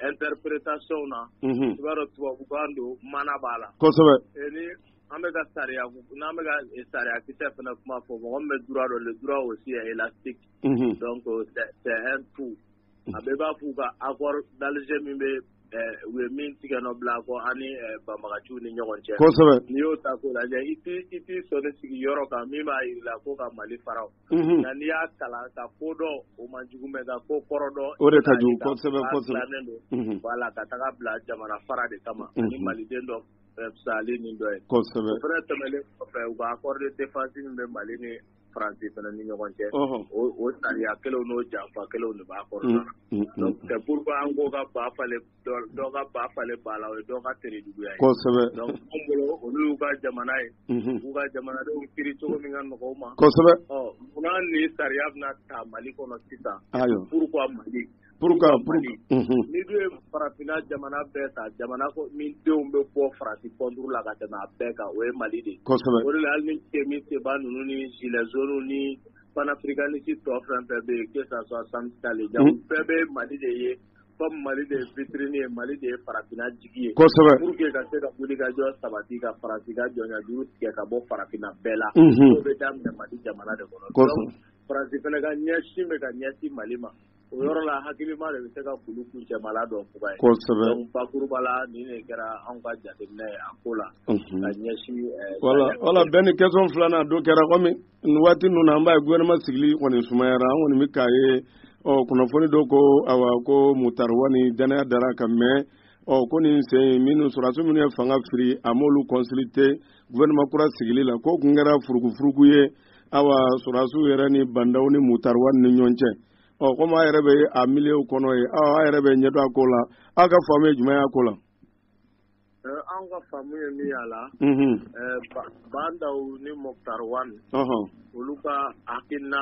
G: interprétation na i b'a dɔn tubabukan don mana b'a la kosɛbɛ ni
A: an bɛ
G: ka sariya n'an bɛ ka sariya kisɛ fana kuma fɔ mɔgɔ min bɛ droit dɔn le droit aussi est élastique donc c'est un tout a bɛɛ b'a f'u ka accord d'Alger min bɛ u ye min tigɛ nɔ bila kɔ ani banbaganciw ni ɲɔgɔn cɛ kosɛbɛ n'i y'o ta k'o lajɛ i i t'i sɔnin sigi yɔrɔ kan min b'a jira i la ko ka mali fara nka n'i y'a kalan ka ko dɔn o man jugu mais ka ko kɔrɔ dɔn o de ka jugu
A: kosɛbɛ kosɛbɛ
G: donc voilà ka taga bila jamana fara de kama ni maliden dɔ fisayali ni dɔ ye kosɛbɛ o fana tɛmɛnlen kɔfɛ u ka accord de défense min bɛ mali ni faransi fana ni ɲɔgɔn cɛ o sariya kelenw n'o janfa kelenw de b'a kɔrɔ mm, mm, mm, donc c'est pourquoi an ko ka ba falen dɔ ka ba falen ba la o ye dɔ ka tere juguya ye kosɛbɛ
A: donc an
G: bolo olu y'u ka jamana ye mm-hmm. u ka jamanadenw kiri cogo min ka nɔgɔ u ma kosɛbɛ ɔ munna
A: ni
G: sariya bɛna ta mali kɔnɔ sisan pourquoi mali nin dun ye farafinna jamana bɛɛ ta jamana min denw bɛ bɔ faransi kɔnturu la ka tɛmɛ a bɛɛ kan o ye mali de kosɛbɛ o de la hali ni Kemi Seba ninnu ni gilets jaunes ni panafricaniste tɔ fɛn fɛn bɛ yen que ça soit Sams'K Le Jah u bɛɛ bɛ mali de ye comme mali de ye vitrine ye mali de ye farafinna jigi ye kosɛbɛ pour que ka
A: se
G: ka wulikajɔ sabati ka faransi ka jɔnya juru tigɛ ka bɔ farafinna bɛɛ la o bɛ daminɛ mali jamana de kɔnɔ donc faransi fana ka ɲɛsin bɛ ka ɲɛsin mali ma o yɔrɔ la hakilima de bɛ se ka kulu kuncɛmala dɔn fuga ye bakuruba la nin de kɛra anw ka jateminɛ ye a ko la ka ɲɛsin wala bɛn
A: ni question filanan dɔ kɛra kɔmi nin waati ninnu na an b'a ye gouvernement sigili kɔni sumayara an kɔni bɛ k'a ye ɔ kunnafoni dɔ ko a ko Moctar Ouane danaya dara a kan mɛn ɔ ko nin sen minnu sɔrɔdasiw minnu ye fanga firi a m'olu consulter gouvernement kura sigili la k'o tun kɛra furukufuruku ye awa sɔrɔdasiw yɛrɛ ni bandaw ni Moctar Ouane ni ɲɔgɔn cɛ ɔ komi a yɛrɛ bɛ a milieu kɔnɔ yen awa a yɛrɛ bɛ ɲɛdɔn a ko la aw ka faamu ye jumɛn y'a ko la
G: an ka faamu ye min y'a la bandaw ni Moctar Ouane olu ka hakilina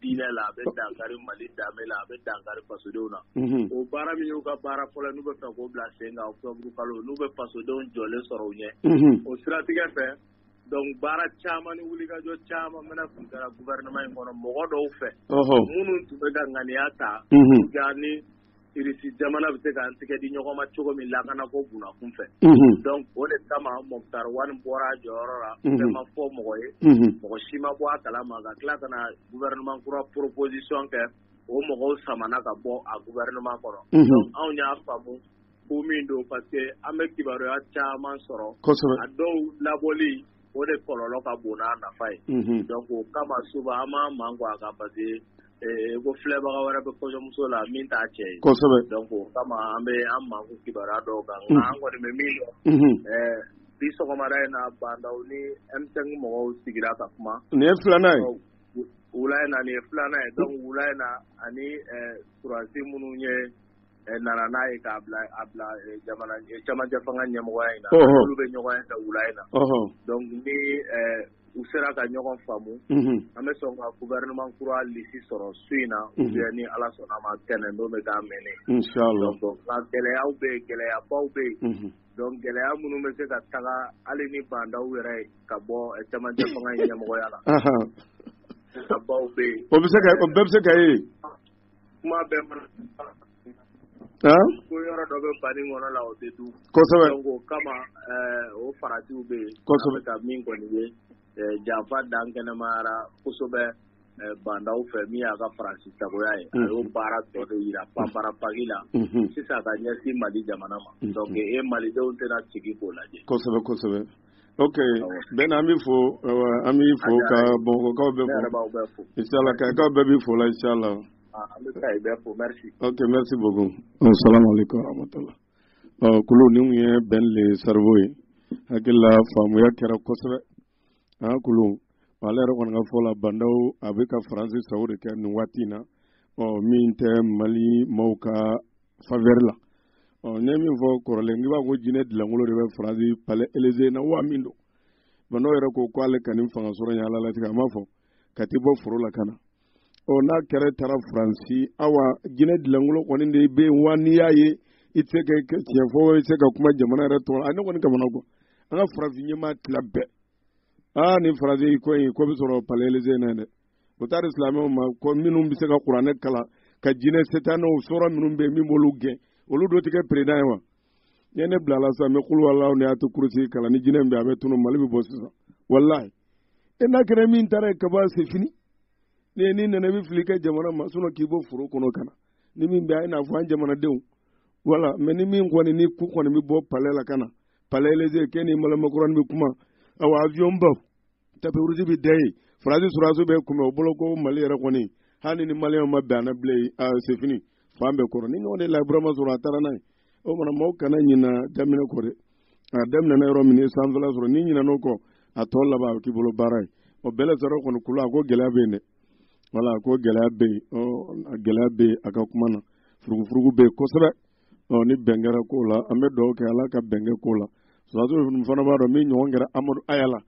G: diinɛ la a bɛ dankari mali danbe la a bɛ dankari fasodenw na o baara min y'u ka baara fɔlɔ n'u bɛ fɛ k'o bila sen kan octobre kalo n'u bɛ fasodenw jɔlen sɔrɔ u ɲɛ o siratigɛ fɛ donc baara caman ni wulikajɔ caman mana tun kɛra gouvernement in kɔnɔ mɔgɔ dɔw fɛ minnu tun bɛ ka ŋaniya ta ni irisi jamana bɛ se k'an tɛgɛ di ɲɔgɔn ma cogo min lakana ko bunda kun fɛ donc o de kama Moctar Ouane bɔra a jɔyɔrɔ la fɛn ma fɔ mɔgɔ ye mɔgɔ si ma bɔ a kala ma ka tila ka na gouvernement kura proposition kɛ o mɔgɔw samana ka bɔ a gouvernement kɔnɔ donc anw y'a faamu ko min don parce que an bɛ kibaruya caman sɔrɔ a dɔw labɔli o de kɔlɔlɔ ka bon n'a nafa ye donc o kama souvent an b'an mankun a kan pa Ee ko filɛbaga wɛrɛ bɛ kɔɲɔmuso la min t'a cɛ ye kosɛbɛ donc o kama
A: an
G: bɛ an mankun kibaruya dɔw kan nka an kɔni bɛ min dɔn unhun ɛɛ bi sɔgɔmada in na Bandaw ni M5 mɔgɔw sigira ka kuma nin ye filanan ye
A: wula in na nin ye
G: filanan ye donc wula in na ani ɛɛ sɔrɔdasi minnu ye nana n'a ye k'a bila camancɛ fanga ɲɛmɔgɔya in na olu bɛ ɲɔgɔn ye wula in na donc ni u sera ka ɲɔgɔn faamu an bɛ sɔn ka gouvernement kura lisi sɔrɔ su in na ou bien ni Ala sɔnna a ma tɛnɛn don bɛ k'a mɛnɛ inchallah
A: donc nka
G: gɛlɛyaw bɛ yen gɛlɛyabaw bɛ yen donc gɛlɛya minnu bɛ se ka taga hali ni bandaw yɛrɛ ka bɔ camancɛ fanga in ɲɛmɔgɔya la gɛlɛyabaw bɛ yen o bɛ se ka o bɛɛ bɛ se ka
A: ye
G: kuma bɛɛ ma ko yɔrɔ dɔ bɛ bani kɔnɔ la o tɛ dun kosɛbɛ donc o kama eh, o faratiw bɛ yen an bɛ ka min kɔni ye eh, janfa dan kɛnɛmayara kosɛbɛ eh, bandaw fɛ min y'a ka faransi sagoya ye a y'o baara tɔ de yira panpara paki la sisan ka ɲɛsin mali jamana ma donc e malidenw tɛna sigi k'o lajɛ kosɛbɛ kosɛbɛ
A: ok bɛn an bɛ fo an bɛ fo ka bamakɔkaw bɛɛ fo insala kayikaw bɛɛ b'i fo la insala
G: ok merci
A: beaucoup salamaleykum rahmatulah kulu nin tun ye bɛn le cerveau ye hakili la faamuya kɛra kosɛbɛ an kulu ale yɛrɛ kɔni ka fɔ la bandaw a bɛ ka faransi sago de kɛ nin waati in na ɔ min tɛ mali maaw ka faveur la ɔ ne ye min fɔ kɔrɔlen n'i b'a ko jinɛ dilankolo de bɛ faransi palais élysée na wa min don bandaw yɛrɛ ko ko ale ka nin fanga sɔrɔ in ala latigɛ a m'a fɔ ka t'i bɔ foro la ka na ɔ n'a kɛra taara faransi awa jinɛ dilankolo kɔni de bɛ yen wa n'i y'a ye i tɛ se ka tiɲɛ fɔ i tɛ se ka kuma jamana yɛrɛ tɔgɔ la a ne kɔni kamanagwan an ka farafin ɲɛmaa tila bɛɛ aa nin faransi ko in ko bɛ sɔrɔ palais élysée na dɛ u taara silamɛw ma ko minnu bɛ se ka kuranɛ kalan ka jinɛ setanɛw sɔrɔ minnu bɛ yen min b'olu gɛn olu dɔ tɛ kɛ président ye wa n'i ye ne bila la sisan n bɛ kuluwalaw ni ayatu kurusi kalan ni jinɛ bɛ a bɛ tunun mali bɛ bɔ sisan walayi e n'a kɛra min taara yen kaban c'est fini ne ye n'i nana i bɛ fili kɛ jamana ma sinɔn k'i bɔ foro kɔnɔ ka na ni min bɛ a ye n'a fɔ an jamanadenw wala mɛ ni min kɔni ni ku kɔni bɛ bɔ palais la ka na palais élysée k'e ni emmanuel macron bɛ kuma awa avion baw tapis rouge bɛ da yen faransi sɔrɔdasiw b'i kunbɛn o bolo ko mali yɛrɛ kɔni hali ni maliyɛnw ma bɛn a na bilen c'est fini fan bɛɛ kɔrɔ nin ɲɔgɔn de laji burama sɔrɔ a taara n'a ye o mana maaw kana ɲina daminɛ kɔ dɛ a daminɛna yɔrɔ min ye sanfɛla sɔrɔ n'i ɲinɛna o kɔ a tɔ laban a bɛ k'i bolo baara ye o bɛɛ la sɔrɔ kɔni kulu a ko gɛlɛya bɛ yen dɛ wala a ko gɛlɛya bɛ yen gɛlɛya bɛ yen a ka kuma na furugufurugu bɛ yen kosɛbɛ ɔ ni bɛn kɛra ko la an bɛ dugawu kɛ ala ka bɛn kɛ ko la sɔrɔdasi ninnu fana b'a dɔn min ɲɔgɔn kɛra amadu haya la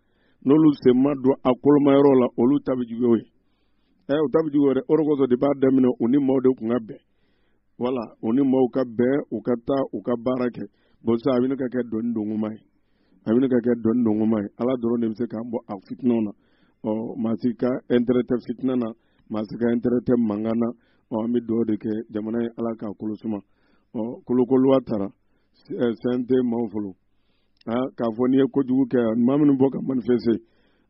A: n'olu sen ma don a koloma yɔrɔ la olu ta bɛ juguya o ye ɛ u ta bɛ juguya dɛ o de kosɔn de b'a daminɛ u ni maaw de tun ka bɛn wala u ni maaw ka bɛn u ka taa u ka baara kɛ bɔn sisan a bɛ ɲini ka kɛ dɔnni dongoma ye a bɛ ɲini ka kɛ dɔnni dongoma ye ala dɔrɔn de bɛ se k'an bɔ a fitinaw na ɔ maa si ka intérêt tɛ fitina na maa si ka intérêt tɛ mankan na ɔ an bɛ dugawu de kɛ jamana ye ala k'a kolo suma ɔ kulu kulu a tara sɛnte eh, maaw folo ah, k'a fɔ n'i ye kojugu kɛ maa minnu bɔ ka manifeste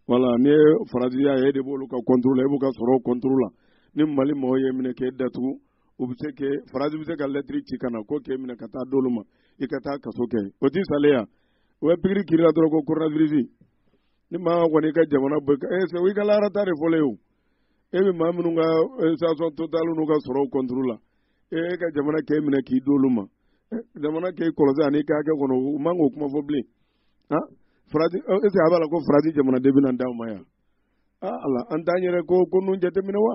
A: wala n'i ye faransi y'a ye e de b'olu ka contre la e b'u ka sɔrɔ contre la ni mali mɔgɔw y'e minɛ k'e datugu u bɛ se k'e faransi bɛ se ka lɛtiri ci ka na ko k'e minɛ ka taa d'olu ma i ka taa kaso kɛ o t'i salen yan o bɛ pikiri k'i la dɔrɔn ko coronavirus ni maa kɔni ka jamana bɛ ka ee sɛbɛn i ka laharataa de fɔlen ye o e bɛ maa minnu ka station total n'u ka sɔrɔw contre la e ka jamana k'e minɛ k'i d'olu ma jamana k'e kɔlɔsi ani k'a kɛ kɔnɔ u man k'o kuma fɔ bilen ah faransi e sɛ a b'a la ko faransi jamanaden bɛna d'anw ma yan ah ala an t'an yɛrɛ ko ko ninnu jateminɛ wa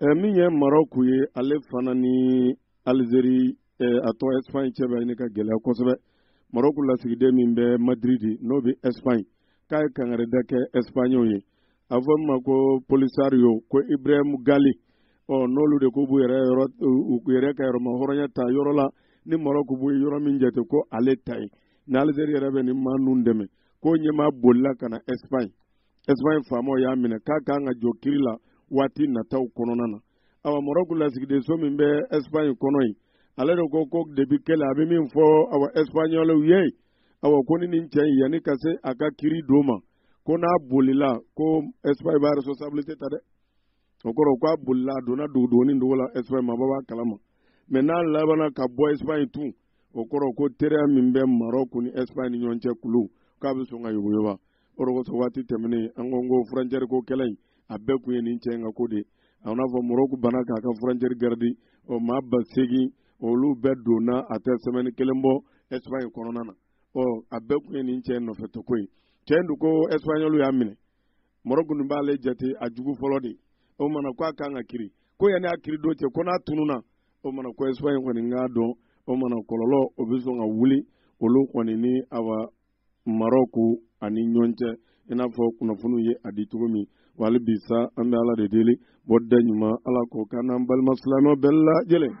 F: Eh, min ye
A: Maroc ye ale fana ni Algérie eh, a tɔgɔ Espagne cɛ bɛ ɲini ka gɛlɛya kosɛbɛ Maroc lasigiden min bɛ Madrid n'o bɛ Espagne k'a ye kangarida kɛ Espagnew ye a fɔ min ma ko Polisario ko Ibrahim Gali ɔ n'olu de k'u b'u yɛrɛ yɔrɔ u yɛrɛ ka yɛrɛmahɔrɔnya ta yɔrɔ la ni Maroc b'o yɔrɔ min jate ko ale ta ye ni Algérie yɛrɛ bɛ nin maa ninnu dɛmɛ k'o ɲɛmaa bolila ka na Espagne esipanye faamaw y'a minɛ k'a kan ka jɔ kiri la waati nataw kɔnɔna na awa marɔku lasigidenso min bɛ esipanye kɔnɔ yen ale de ko ko depi kɛlɛ a bɛ min fɔ awa esipanyɔlɛw ye awa ko ni nin cɛ in yanni ka se a ka kiri don ma ko n'a bolila ko esipanye b'a responsabilite ta dɛ o kɔrɔ k'a bolila a donna dogodogonin dogo la esipanye maabaw b'a kalama mɛ n'a labanna ka bɔ esipanye tun o kɔrɔ ko teriya min bɛ marɔku ni esipanye ni ɲɔgɔn cɛ k'olu k'a bɛ sɔn ka yogoyoba o de kosɔn waati tɛmɛnen an ko ko furancɛri ko kɛlɛ in a bɛɛ kun ye nin cɛ in ka ko de ye a n'a fɔ moroku banna k'a ka furancɛri garidi o maa ba seegin olu bɛɛ donna a tɛ sɛmɛni kelen bɔ ɛsipaɲi kɔnɔna na ɔ a bɛɛ kun ye nin cɛ in nɔfɛ toko ye cɛ in dun ko ɛsipaɲɔlu y'a minɛ moroku nin b'ale jate a jugu fɔlɔ de o mana ko a kan ka kiri ko yanni a kiri don cɛ ko n'a tununa o mana ko ɛsipaɲi kɔni k'a dɔn o mana kɔlɔlɔ o bɛ sɔn ka wuli olu kɔni ni awa marɔku ani ɲɔgɔn cɛ i n'a fɔ kunnafoniw ye a di cogo min wa hali bi sa an bɛ ala de deli bɔda ɲuman ala k'o k'an n'an balima silamɛ bɛɛ lajɛlen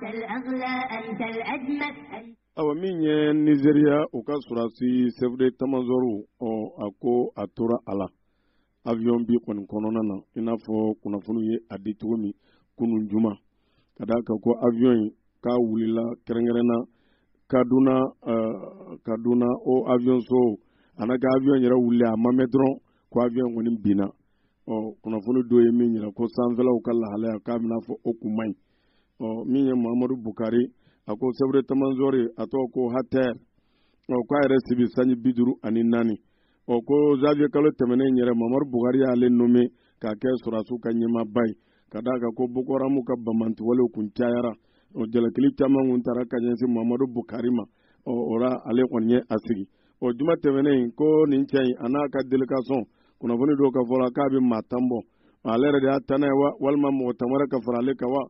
A: awa min ye nizeriya u ka sɔrɔdasi sɛfu detamazɔri ɔ a ko a tora a la avion bin kɔni kɔnɔna na i n'a fɔ kunnafoniw ye a di cogo min kunu juma ka d'a kan ko avion in k'a wulila kɛrɛnkɛrɛnna kaduna uh, kaduna o avion so a na kɛ avion yɛrɛ wulila a ma mɛn dɔrɔn ko avion kɔni binna ɔ kunnafoni dɔ ye min yira ko sanfɛlaw ka lahalaya k'a bɛna fɔ o kun man ɲi ɔ min ye mahamadu bukari a ko sɛfu detamazɔri a tɔgɔ ko atahiru ɔ k'a yɛrɛ si bɛ sanji bi duuru ani naani ɔ ko zanviye kalo tɛmɛnen yɛrɛ mamadu bukari y'ale nome k'a kɛ sɔrɔdasiw ka ɲɛmaaba ye ka d'a kan ko boko haramu ka banbaanciwalew kun cayara ɔ jalakili caman kun taara ka ɲɛsin mamadu bukari ma ɔ o ra ale kɔni ye a sigi ɔ juma tɛmɛnen ko nin cɛ in a n'a ka delegasɔn kunnafoni dɔw ka fɔ la k'a bɛ maa tan bɔ ale yɛrɛ de y'a tannan ye wa walima mɔgɔ tan wɛrɛ ka fara ale kan wa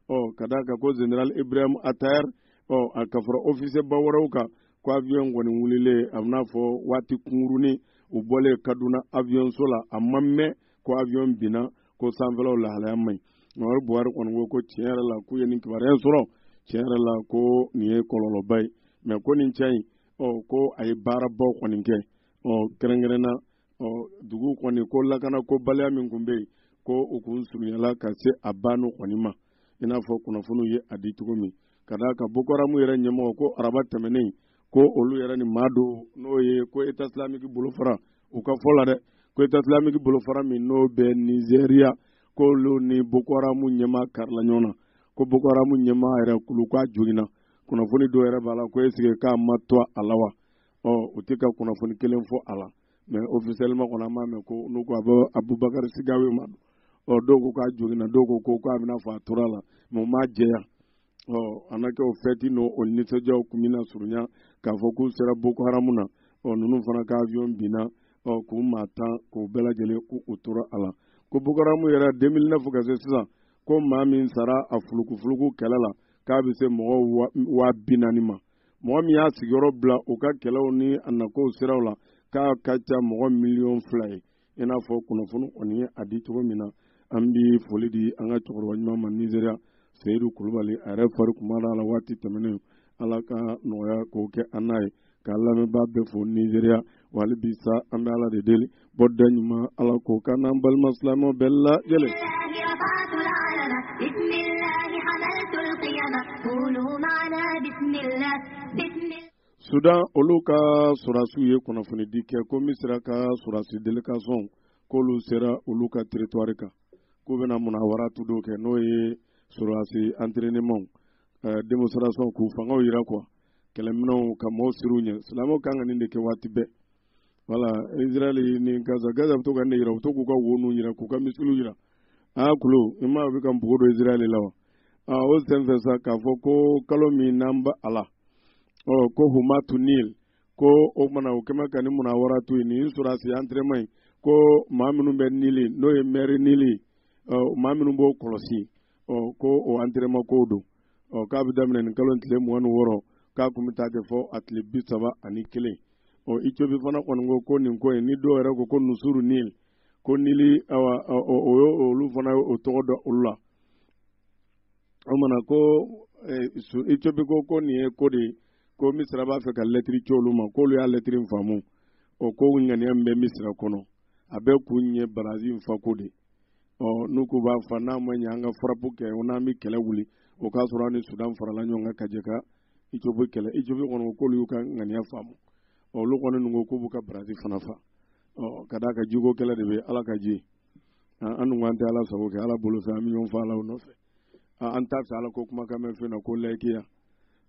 A: ɔ ka d'a kan ko zenerali ibrahim atahiru ɔ a ka fara ofisɛba wɛrɛw kan ko aviyɔn kɔni wulilen a bɛna fɔ waati kunkurunnin u bɔlen kaduna aviyɔnso la a ma mɛn ko aviyɔn binna ko sanfɛlaw lahalaya man ɲi mamadu buhari kɔni ko ko tiɲɛ yɛrɛ la k'u ye nin kibaruya in sɔrɔ tiɲɛ yɛrɛ la ko nin ye kɔlɔlɔba ye mɛ ko nin cɛ in ɔ ko a ye baarabaw kɔni kɛ ɔ kɛrɛnkɛrɛnna o dugu kɔni ko lakana ko baliya min kun bɛ yen ko u kun surunyala ka se a banni kɔni ma i n'a fɔ kunnafoniw ye a di cogo min ka d'a kan boko haramu yɛrɛ ɲɛmɔgɔ ko araba tɛmɛnen ko olu yɛrɛ ni maa dɔ n'o ye ko eta silamiki bolofara u ka fɔ la dɛ ko eta silamiki bolofara min n'o bɛ nizeriya k'olu ni boko haramu ɲɛmaa karila ɲɔgɔn na ko boko haramu ɲɛmaa yɛrɛ kulu k'a joginna kunnafoni dɔw yɛrɛ b'a la ko esike k'a ma to a la wa ɔ u tɛ ka kunnafoni kelen fɔ a la mɛ ofisɛliman kɔni an m'a mɛn ko n'u ko a bɛ abubakari sigawe ma ɔ dɔw ko k'a joginna dɔw ko ko k'a bɛna fɔ a tora a la mɛ u m'a jɛya ɔ a na kɛ o fɛti n'o o nisɔndiyaw kun bɛna surunya k'a fɔ k'u sera boko haramu na ɔ ninnu fana ka avion binna ɔ k'u maa tan k'u bɛɛ lajɛlen k'u u tora a la ko boko haramu yɛrɛ 2009 ka se sisan ko maa min sara a fulukufuluku kɛlɛ la k'a bɛ se mɔgɔ waa bi naani ma mɔgɔ min y'a sigiyɔrɔ bila u ka kɛlɛw ni a nakow siraw la k'a ka ca mɔgɔ miliyɔn fila ye i n'a fɔ kunnafoni kɔni ye a di cogo min na an bɛ foli di an ka cɛkɔrɔba ɲuman ma nizeriya seyidu kulubali a yɛrɛ fari kun man d'a la waati tɛmɛnen ala ka nɔgɔya k'o kɛ an n'a ye k'a lamɛnbaa bɛɛ fo nizeriya wa hali bi sa an bɛ ala de deli bɔda ɲuman ala k'o k'an n'an balima silamɛw bɛɛ lajɛlen. sudan olu ka sɔrɔdasiw ye kunnafonidi kɛ ko misira ka sɔrɔdasi delegasɔn k'olu sera olu ka teritwari kan k'u bɛna munawaratu dɔ kɛ n'o ye sɔrɔdasi antirenemaw eh, demonstration k'u fangaw yira kuwa kɛlɛminɛnw ka maaw siran u ɲɛ silamɛw kan ka nin de kɛ waati bɛɛ wala israɛl ni gaza gaza bɛ to ka nin yira u to k'u ka wo ninnu yira k'u ka misiliw yira aa kulo i ma bɛ ka npogo don israɛl la wa aa o senfɛ sa k'a fɔ ko kalo min n'an bɛ a la ɔ ko humatu nil ko o kumana o kɛmɛ ka ni munawaratu ye nin sɔrɔdasi antirenema in ko maa minnu bɛ nili n'o ye mɛri nili ɔ maa minnu b'o kɔlɔsi ɔ ko o antirenema kow don ɔ k'a bɛ daminɛ nin kalo tile mugan ni wɔɔrɔ k'a kun bɛ taa kɛ fo a tile bi saba ani kelen ɔ icobi fana kɔni ko ko nin ko in ni dɔw yɛrɛ ko ko nusuru nil ko nili awa o yo olu fana ye o tɔgɔ dɔ olu la o maana ko icobi ko ko nin ye ko de ye ko misira b'a fɛ ka lɛtiri ci olu ma k'olu y'a lɛtiri faamu o ko ŋaniya min bɛ misira kɔnɔ a bɛɛ kun ye barazi fa ko de ye ɔ n'u k'u b'a fa n'a ma ɲɛ an ka farapu kɛ o n'an bɛ kɛlɛ wuli o k'a sɔrɔ an ni sudan farala ɲɔgɔn kan ka jɛ ka icobi kɛlɛ icobi kɔni o k'olu y'u ka ŋaniya faamu ɔ olu kɔni ninnu ko k'u b'u ka barazi fana fa ɔ ka d'a kan jiko kɛlɛ de bɛ ala ka ji an dun an tɛ ala sago kɛ ala bolofɛn an bɛ ɲɔgɔn fagala o nɔfɛ an t'a fɛ ala ko kumakan mɛn fɛn na ko layikiya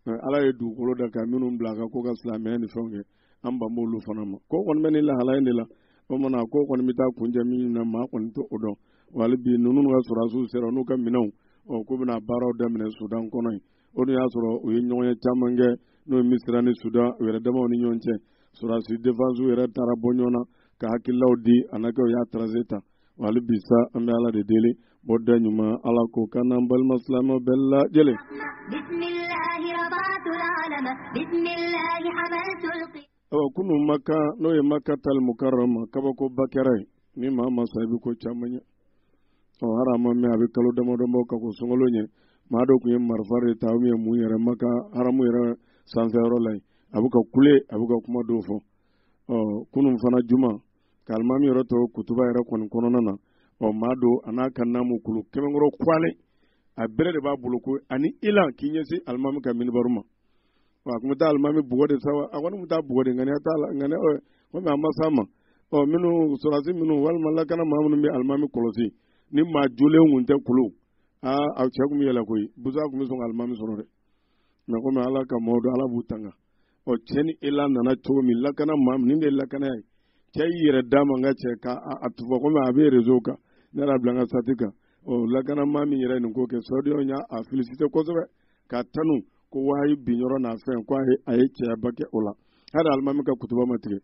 A: ala ye dugukolo da ka minnu bila a kan ko ka silamɛya ni fɛnw kɛ an ban b'olu fana ma ko kɔni bɛ ni lahala in de la o mana ko kɔni bɛ taa kuncɛ min na maa kɔni t'o dɔn wa hali bi ninnu ka sɔrɔdasiw sera n'u ka minɛnw ɔ k'u bɛna baaraw daminɛ sudan kɔnɔ yen o dun y'a sɔrɔ u ye ɲɔgɔnye caman kɛ n'o ye misira ni sudan u yɛrɛ damaw ni ɲɔgɔn cɛ sɔrɔdasi defansiw yɛrɛ taara bɔ ɲɔgɔn na ka hakililaw di a na kɛ u y'a taranze ta hali bi sa an bɛ ala de deli bɔda ɲuman ala k'o k'an n'an balima silamɛ bɛɛ lajɛlen. ɔ kunun maka n'o ye makatal mukarama kabakoba kɛra yen ni maa ma sa i bɛ ko caman ye ɔ hali a ma mɛn a bɛ kalo damadɔ bɔ ka kɔn sunkalo ɲɛ maa dɔ tun ye marifa de ta u ye mun yɛrɛ maka haramu yɛrɛ sanfɛyɔrɔ la yen a bɛ ka kule a bɛ ka kuma dɔw fɔ ɔ kunun fana juma k'alimami yɛrɛ to kutuba yɛrɛ kɔni kɔnɔna na ɔ maa dɔ a n'a ka naamu kulu kɛmɛkɔrɔ kwalen a bere de b'a bolo ko a ni elan k'i ɲɛsin alimami ka minibaru ma wa a tun bɛ taa alimami bugɔ de sa wa a kɔni tun taa bugɔ de ŋaniya t'a la ŋaniya ɔ komi a ma s'a ma ɔ minnu sɔrɔdasi minnu walima lakana maa minnu bɛ alimami kɔlɔsi ni maa jɔlen kun tɛ kulu aa a cɛ tun bɛ yɛlɛ koyi busa tun bɛ sɔn ka alimami sɔrɔ dɛ mɛ komi ala ka mɔɔw don ala b'u tanga ɔ cɛ ni elan nana cogo min lakana maa min de ye lakanaya ye cɛ y'i yɛrɛ d'a ma k'a cɛ k'a tufa komi a bɛ rezo kan ne yɛrɛ bila n ka sati kan ɔ lakana maa min yɛrɛ nin ko kɛ sɔdiyaw y'a felisite kosɛbɛ k'a tanu ko wahayi bin yɔrɔ n'a fɛn ko a ye cɛyaba kɛ o la hali alimami ka kutuba ma tigɛ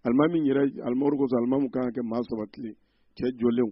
A: alimami yɛrɛ alimami kosɔn alimami kan ka kɛ maa sabatilen cɛ jɔlenw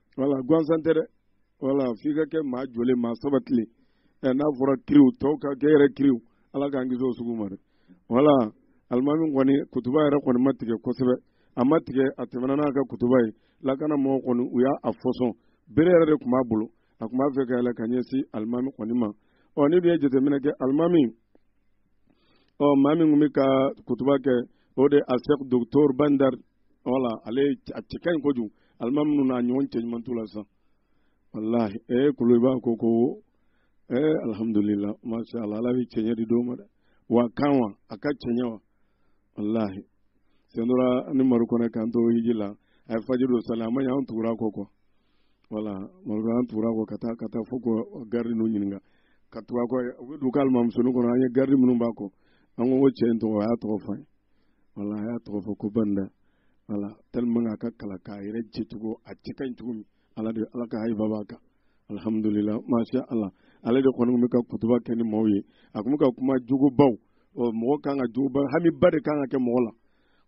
A: wala gansan tɛ dɛ wala f'i ka kɛ maa jɔlen maa sabatilen ɛ n'a fɔra kiriw tɔw ka kɛ yɛrɛ kiriw ala k'an kisi o sugu ma dɛ wala alimami kɔni kutuba yɛrɛ kɔni ma tigɛ kosɛbɛ a ma tigɛ a tɛmɛna n'a ka kutuba ye lakana mɔgɔw kɔni u y'a a fɔsɔn bere yɛrɛ de tun b'a bolo a tun b'a fɛ ka yɛlɛ ka ɲɛsin alimami kɔni ma ɔ n'i dun ye jateminɛ kɛ alimami ɔ maa min tun bɛ ka kutuba kɛ o de asɛk doctor bandar wala ale a cɛ ka ɲi kojugu alimami ninnu n'a ɲɔgɔn cɛ ɲuman t'u la sisan walahi ee kuluba ko ko ee alhamdulila masha allah ala bɛ cɛɲɛ di dɔw ma dɛ wa kan wa a ka cɛɲɛ wa walahi sen dɔ la ni maru kɔnɛ k'an to hiji la a ye fajiri dɔ sali jama ɲɛ an tugur'a kɔ kɔ wala maru an tugur'a kɔ ka taa ka taa fo ka garidi ninnu ɲininka ka tugu a kɔ u bɛ don k'alimamu sonin kɔnɔ an ye garidi minnu b'a kɔ an ko ko cɛ in tɔgɔ a y'a tɔgɔ fɔ an ye wala a y'a tɔgɔ fɔ ko bandar wala tellement a ka kalan k'a yɛrɛ jɛcogo a cɛ ka ɲi cogo min ala de ala ka hayiba b'a kan alhamdulila masha ala ale de kɔni bɛ ka kutuba kɛ ni maaw ye a tun bɛ ka kuma jogobaw ɔ mɔgɔ kan ka jogoba hamiba de kan ka kɛ mɔgɔ la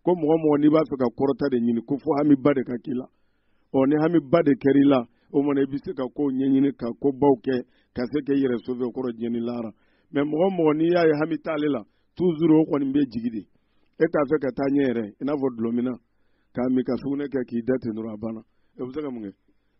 A: ko mɔgɔ mɔgɔ n'i b'a fɛ ka kɔrɔta de ɲini ko fo hamiba de ka k'i la ɔ ni hamiba de kɛra i la o mana i bɛ se ka kow ɲɛɲini ka kobaw kɛ ka se k'i yɛrɛ sauver o kɔrɔ diɲɛ ni lahara mɛ mɔgɔ mɔgɔ n'i y'a ye hami t'ale la tuzuru o kɔni bɛ jigi de e t'a fɛ ka taa ɲɛ yɛrɛ i n'a fɔ dulɔminna k'a min ka sugunɛ kɛ k'i da ten dɔrɔn a banna e bɛ se ka mun kɛ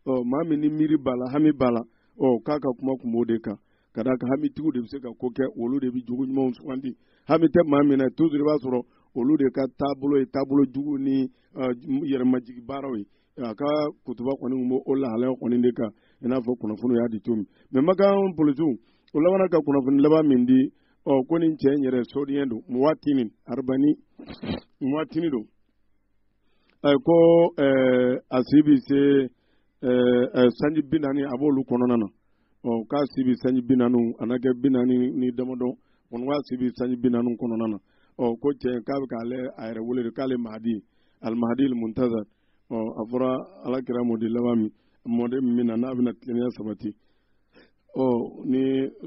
A: ɔ maa min ni miiri b'a la hami b'a la ɔ k'a ka kuma kun b'o de kan ka d'a kan hamitigiw de bɛ se ka ko kɛ olu de bɛ jogo ɲumanw sugandi hami tɛ maa min na tuzuru i b'a sɔrɔ olu de ka taabolo ye taabolo jugu ni yɛrɛmajigi baaraw ye a ka kutuba kɔni b'o o lahalaya kɔni de kan i n'a fɔ kunnafoni y'a di cogo min mɛ makan polisiw o labanna ka kunnafoni laban min di ɔ ko nin cɛ in yɛrɛ sodiyɛn don muwatini arabani muwatini don ɛ ko ɛ a si bi se ɛ ɛ sanji bi naani a b'olu kɔnɔna na ɔ k'a si bi sanji bi naani a na kɛ bi naani ni damadɔ kɔni k'a si bi sanji bi naani kɔnɔna na ɔ ko cɛ k'a bɛ k'ale a yɛrɛ wele de k'ale mahadi almahadi almuntazari ɔ a fɔra ala kira mɔden laban min mɔden min bɛ na n'a bɛna tilennenya sabati ɔ ni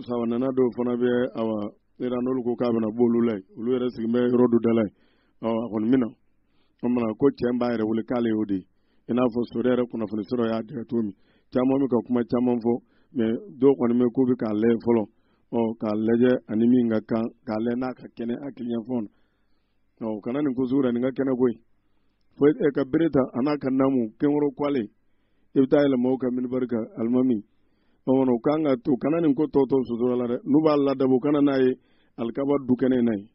A: sabanana dɔw fana bɛ awa yɛrɛ n'olu ko k'a bɛna b'olu la yen olu yɛrɛ sigilen bɛ yɔrɔ dɔ da la yen ɔ a kɔni bɛ na o mana ko cɛ b'a yɛrɛ wele k'ale y'o de ye i n'a fɔ sori yɛrɛ kunnafoni sɔrɔ y'a dɛgɛ cogo min caman bɛ ka kuma caman fɔ mɛ dɔw kɔni bɛ k'u bɛ k'a lajɛ fɔlɔ ɔ k'a lajɛ ani min ka kan k'a lajɛ n'a ka kɛnɛ hakili yanfan na ɔ kana nin ko sugu la nin ka kɛnɛ koyi fo e ka bere ta a n'a ka naamu kɛnkɔrɔ ko ale i bɛ taa yɛlɛ maaw ka minibari kan alimami ɔmɔnɔ u kan ka to kana nin ko tɔ tɔ sosola la dɛ n'u b'a ladabo u kana n'a ye alikaba du kɛnɛ in na ye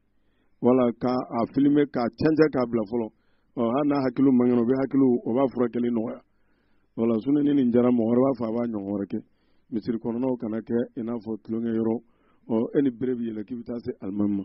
A: wala ka a filime k'a jɛnsɛn k'a bila fɔlɔ ɔ hali n'a hakiliw man kɛnɛ u bɛ hakiliw o b'a furakɛli nɔgɔya wala sini ni nin diyara mɔgɔ wɛrɛ b'a fɔ a b'a ɲɔgɔn wɛrɛ kɛ misiri kɔnɔnaw kana kɛ i n'a fɔ tulonkɛ yɔrɔ ɔ e ni bere bɛ yɛlɛ k'i bɛ taa se alimami ma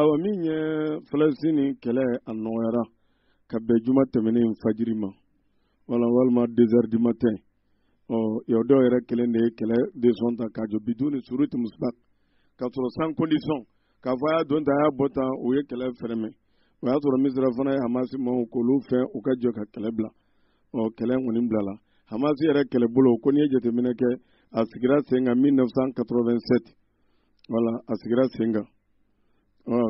A: awa min ye falasini kɛlɛ a nɔgɔyara ka bɛn juma tɛmɛnen fajiri ma wala walima deux heures du matin ɔ yahudiyaw yɛrɛ kelen de ye kɛlɛ desizɔn ta k'a jɔ biduni suruti musbaka k'a sɔrɔ sans condition k'a fɔ a y'a don tan a y'a bɔ tan o ye kɛlɛ fɛrɛmɛ o y'a sɔrɔ misira fana ye hamasi maaw k'olu fɛ u ka jɔ ka kɛlɛ bila ɔ kɛlɛ kɔni bilala hamasi yɛrɛ kɛlɛbolo ko n'i ye jateminɛ kɛ a sigira sen kan 1987 wala a sigira sen kan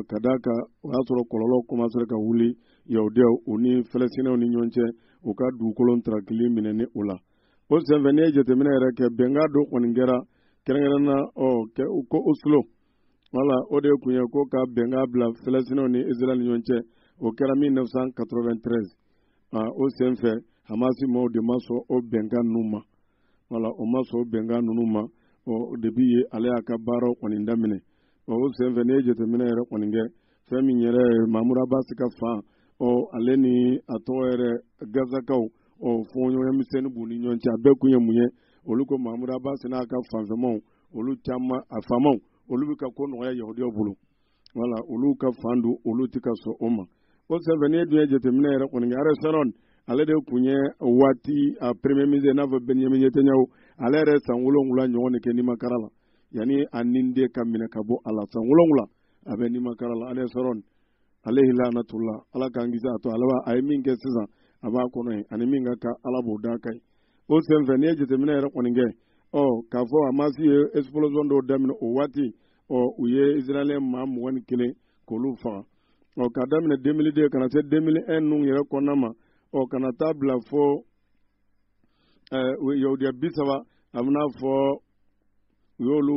A: ka d'a kan o y'a sɔrɔ kɔlɔlɔ kɔmasera ka wuli yahudiyaw u ni fɛlɛsinɛw ni ɲɔgɔn cɛ u ka dugukolo ntarakili minɛni o la o senfɛ n'i ye jateminɛ yɛrɛ kɛ bɛnkan dɔ kɔni kɛra kɛrɛnkɛrɛnna ɔ ko oslo wala o de kun ye ko ka bɛnkan bila fɛlɛsinɛw ni israɛl ni ɲɔgɔn cɛ o kɛra 1993 o senfɛ hamasi maaw de ma sɔn o bɛnkan ninnu ma wala o ma sɔn bɛnkan ninnu ma ɔ depi yen ale y'a ka baaraw kɔni daminɛ ɔ o senfɛ n'i ye jateminɛ yɛrɛ kɔni kɛ fɛn min yɛrɛ ye mamudu abasi ka fan ɔ ale ni a tɔgɔ yɛrɛ gazakaw ɔ fɔɲɔgɔnya misɛnnin b'u ni ɲɔgɔn cɛ a bɛɛ kun ye mun ye olu ko mamudu abasi n'a ka fanfɛmaw olu caman a faamaw olu bɛ ka ko nɔgɔya yahudiyaw bolo wala olu ka fan don olu tɛ ka sɔn o ma o senfɛ n'i ye dun ye jateminɛ yɛrɛ kɔni kɛ ariel sharon ale de tun ye waati a premier ministre n'a fɔ benjamin netanyahu ale yɛrɛ san wolonwula ɲɔgɔn de kɛ nimakara la yanni a nin de ka minɛ ka bɔ a la san wolonwula a bɛ nimakara la ariel sharon alayhi lanatullah ala k'an kisi a to ala b'a a ye min kɛ sisan a b'a kɔnɔ ye ani min ka kan ala b'o d'a kan ye o senfɛ n'i ye jateminɛ yɛrɛ kɔni kɛ ɔ k'a fɔ hamasi ye explosion dɔw daminɛ o waati ɔ u ye israélien maa mugan ni kelen k'olu faga ɔ k'a daminɛ 2002 ka na se 2001 ninnu yɛrɛ kɔnɔna ma ɔ ka na taa bila fo ɛɛ yahudiya bi saba a bɛna fɔ u y'olu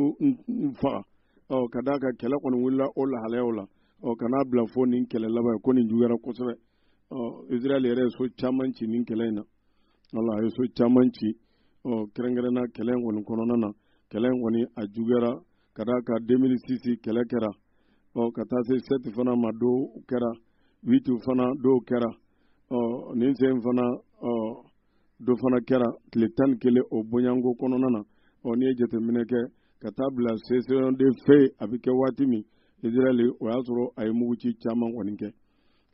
A: faga ɔ ka d'a kan kɛlɛ kɔni wulila o lahalayaw la ɔ ka na bila fo nin kɛlɛ laban ye ko nin juguyara kosɛbɛ ɔ israɛl yɛrɛ ye so caman ci nin kɛlɛ in na Voilà a ye so caman ci kɛrɛnkɛrɛnna kɛlɛ kɔni kɔnɔna na kɛlɛ kɔni a juguyara ka d'a kan 2006 kɛlɛ kɛra ɔ ka taa se sept fana ma dɔ kɛra huit fana dɔ kɛra ɔ nin sen fana ɔ dɔ fana kɛra tile tan ni kelen o bonyanko kɔnɔna na ɔ n'i ye jateminɛ kɛ ka taa bila cessation de feu a bɛ kɛ waati min israɛl o y'a sɔrɔ a ye mugu ci caman kɔni kɛ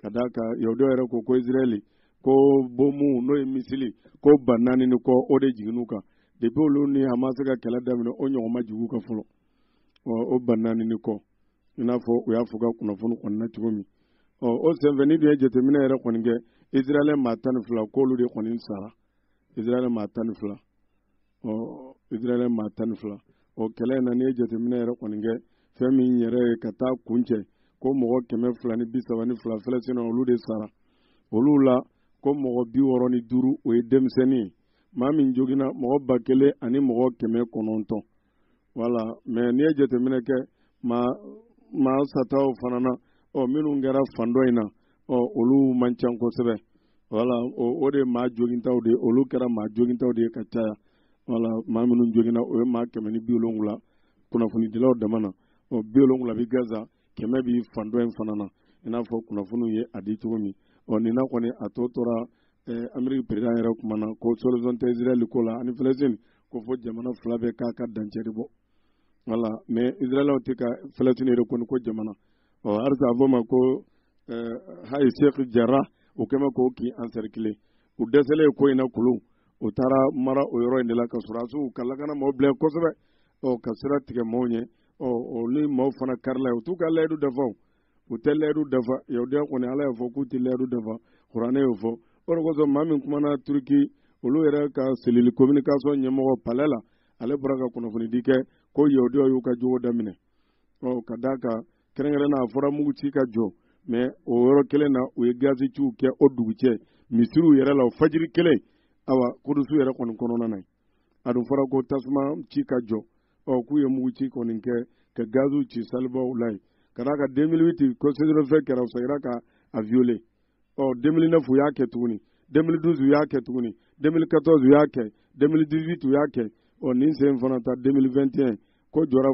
A: ka d'a kan yahudiyaw yɛrɛ ko ko israɛli ko bomu n'o ye misili ko ba naani ni kɔ o de jiginn'u kan depuis olu ni hamasi ka kɛlɛ daminɛ o ɲɔgɔn ma jigin u kan fɔlɔ o ba naani ni kɔ i n'a fɔ u y'a fɔ ka kunnafoni kɔni na cogo min ɔ o senfɛ n'i dun ye jateminɛ yɛrɛ kɔni kɛ israɛl maa tan ni fila k'olu de kɔni sara israɛl maa tan ni fila ɔ israɛl maa tan ni fila ɔ kɛlɛ in na n'i ye jateminɛ yɛrɛ kɔni kɛ fɛn min yɛrɛ ye ka taa kuncɛ ko mɔgɔ kɛmɛ fila ni bi saba ni fila fɛlɛsina olu de sara olu la ko mɔgɔ bi wɔɔrɔ ni duuru o ye denmisɛnnin ye maa min joginna mɔgɔ ba kelen ani mɔgɔ kɛmɛ kɔnɔntɔn voilà mais n'i ye jateminɛ kɛ maa sataw fana na ɔ minnu kɛra fan dɔ in na ɔ olu man ca kosɛbɛ voilà o de maa jogintaw de olu kɛra maa jogintaw de ye ka caya voilà maa minnu joginna o ye maa kɛmɛ ni bi wolonwula kunnafonidilaw dama na ɔ bi wolonwula bi gaza kɛmɛ bi fan dɔ in fana na i n'a fɔ kunnafoniw ye a di cogo min ɔ nin na kɔni a tɔ tora eh, ameriki perezidan yɛrɛ kuma na ko solution tɛ israɛl ko la ani filɛsini ko fo jamana fila bɛ k'a ka dancɛ de bɔ voilà mais israɛl tɛ ka falasini yɛrɛ kɔni ko jamana ɔ halisa a fɔ ma ko eh, hayi sheikh jarrah o kɛmɛ k'o kin encercler u dɛsɛlen ko in na kulu u taara mara o yɔrɔ in de la ka sɔrɔdasiw ka lakana maaw bila kosɛbɛ ɔ ka sira tigɛ maaw ɲɛ ɔ o ni maaw fana karila u t'u ka layidu dafa u tɛ layidu dafa yahudiya kɔni ala y'a fɔ k'u tɛ layidu dafa kuranɛ y'o fɔ o de kosɔn maa min kumana turiki olu yɛrɛ ka cellule communication ɲɛmɔgɔ palais la ale bɔra ka kunnafonidi kɛ ko yahudiyaw y'u ka jogo daminɛ ɔ ka d'a kan kɛrɛnkɛrɛn na a fɔra mugu ci ka jɔ mɛ o yɔrɔ kelen na u ye gazi ciw kɛ o dugujɛ misiriw yɛrɛ la o fajiri kelen awa kudusu yɛrɛ kɔni kɔnɔna na a dun fɔra ko tasuma ci ka jɔ ɔ k'u ye mugu ci kɔni kɛ ka gaziw ci salibaw la yen ka d'a kan 2008 ko cessez-le-feu kɛra u segira ka a viole ɔ demili nɛfu y'a kɛ tuguni demili duzu y'a kɛ tuguni demili katɔzu y'a kɛ demili dizuitu y'a kɛ ɔ nin sen fana ta demili vɛntiyɛn ko jɔra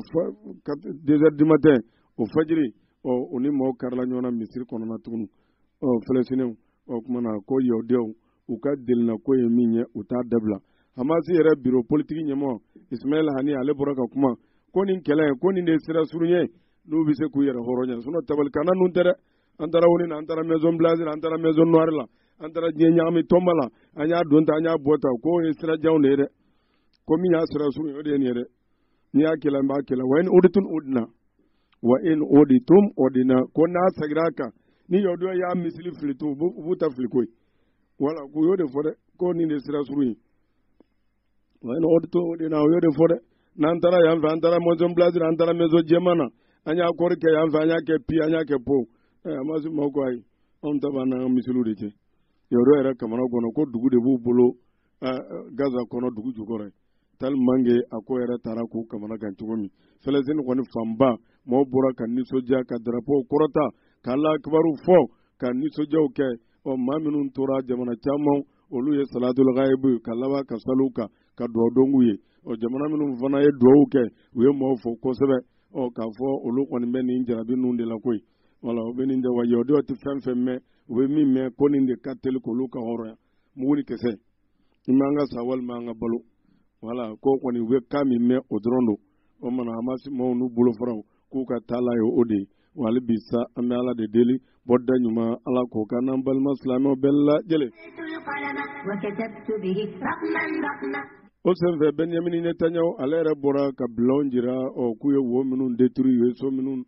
A: dezɛri dimatɛn o fajiri ɔ o ni mɔgɔw karila ɲɔgɔn na misiri kɔnɔna tuguni ɔ fɛlɛsinɛw ɔ kumana ko yahudiyaw u ka delina ko ye min ye u t'a dabila hamasi yɛrɛ biro politiki ɲɛmɔgɔ ismaɛl hani ale bɔra ka kuma ko nin kɛlɛ ko nin de ye sira surun ye n'u bɛ se k'u yɛrɛ hɔrɔnya sinɔ tabalikanna ninnu tɛ dɛ an taara onu na an taara maison blanche la an taara maison noire la an taara diɲɛ ɲagami tɔnba la an y'a don ta an y'a bɔ ta k'o ye sira janw de ye dɛ ko min y'a sira surun ye o de ye nin ye dɛ n'i y'a kɛlɛ n b'a kɛlɛ wa in oditum odina wa in oditum odina ko n'a segira a kan ni yahudiyaw y'a misili fili to u b'u ta fili koyi wala k'u y'o de fɔ dɛ ko nin de sira surun ye wa in oditum odina u y'o de fɔ dɛ n'an taara yan fɛ an taara maison blanche la an taara maison jɛman na an y'a kɔri kɛ yan fɛ an y'a kɛ pi an y'a kɛ po ɛ hamasi maaw ko ayi anw ta b'an n'an ka misiliw de cɛ yahudiyaw yɛrɛ kamana ganna ko dugu de b'u bolo gaza kɔnɔ dugu jukɔrɔ yen tellement que a ko yɛrɛ taara k'u kamana gan cogo min fɛlɛsini kɔni fanba maaw bɔra ka nisɔndiya ka darapow kɔrɔta ka alahu akibaru fɔ ka nisɔndiyaw kɛ ɔ maa minnu tora jamana caman olu ye salatul gayibu kɛ ka laban ka sali u kan ka dugawu don u ye ɔ jamana minnu fana ye dugawu kɛ u ye maaw fo kosɛbɛ ɔ k'a fɔ olu kɔni bɛ nin jarabi ninnu de la koyi wala u bɛ nin de wa yahudiyaw tɛ fɛn fɛn mɛn u bɛ min mɛn ko nin de ka teli k'olu ka hɔrɔnya mugu ni kisɛ ima an ka sa walima an ka balo wala ko kɔni u bɛ kan min mɛn o dɔrɔn don o mana hamasi maaw n'u bolofaraw k'u ka taala ye o de ye wa hali bi sa an bɛ ala de deli bɔda ɲuman ala k'o k'an n'an balima silamɛw bɛɛ lajɛlen o senfɛ bɛnyamini netanyahu ale yɛrɛ bɔra ka bilanw jira ɔ k'u ye wo minnu détruit u ye so minnu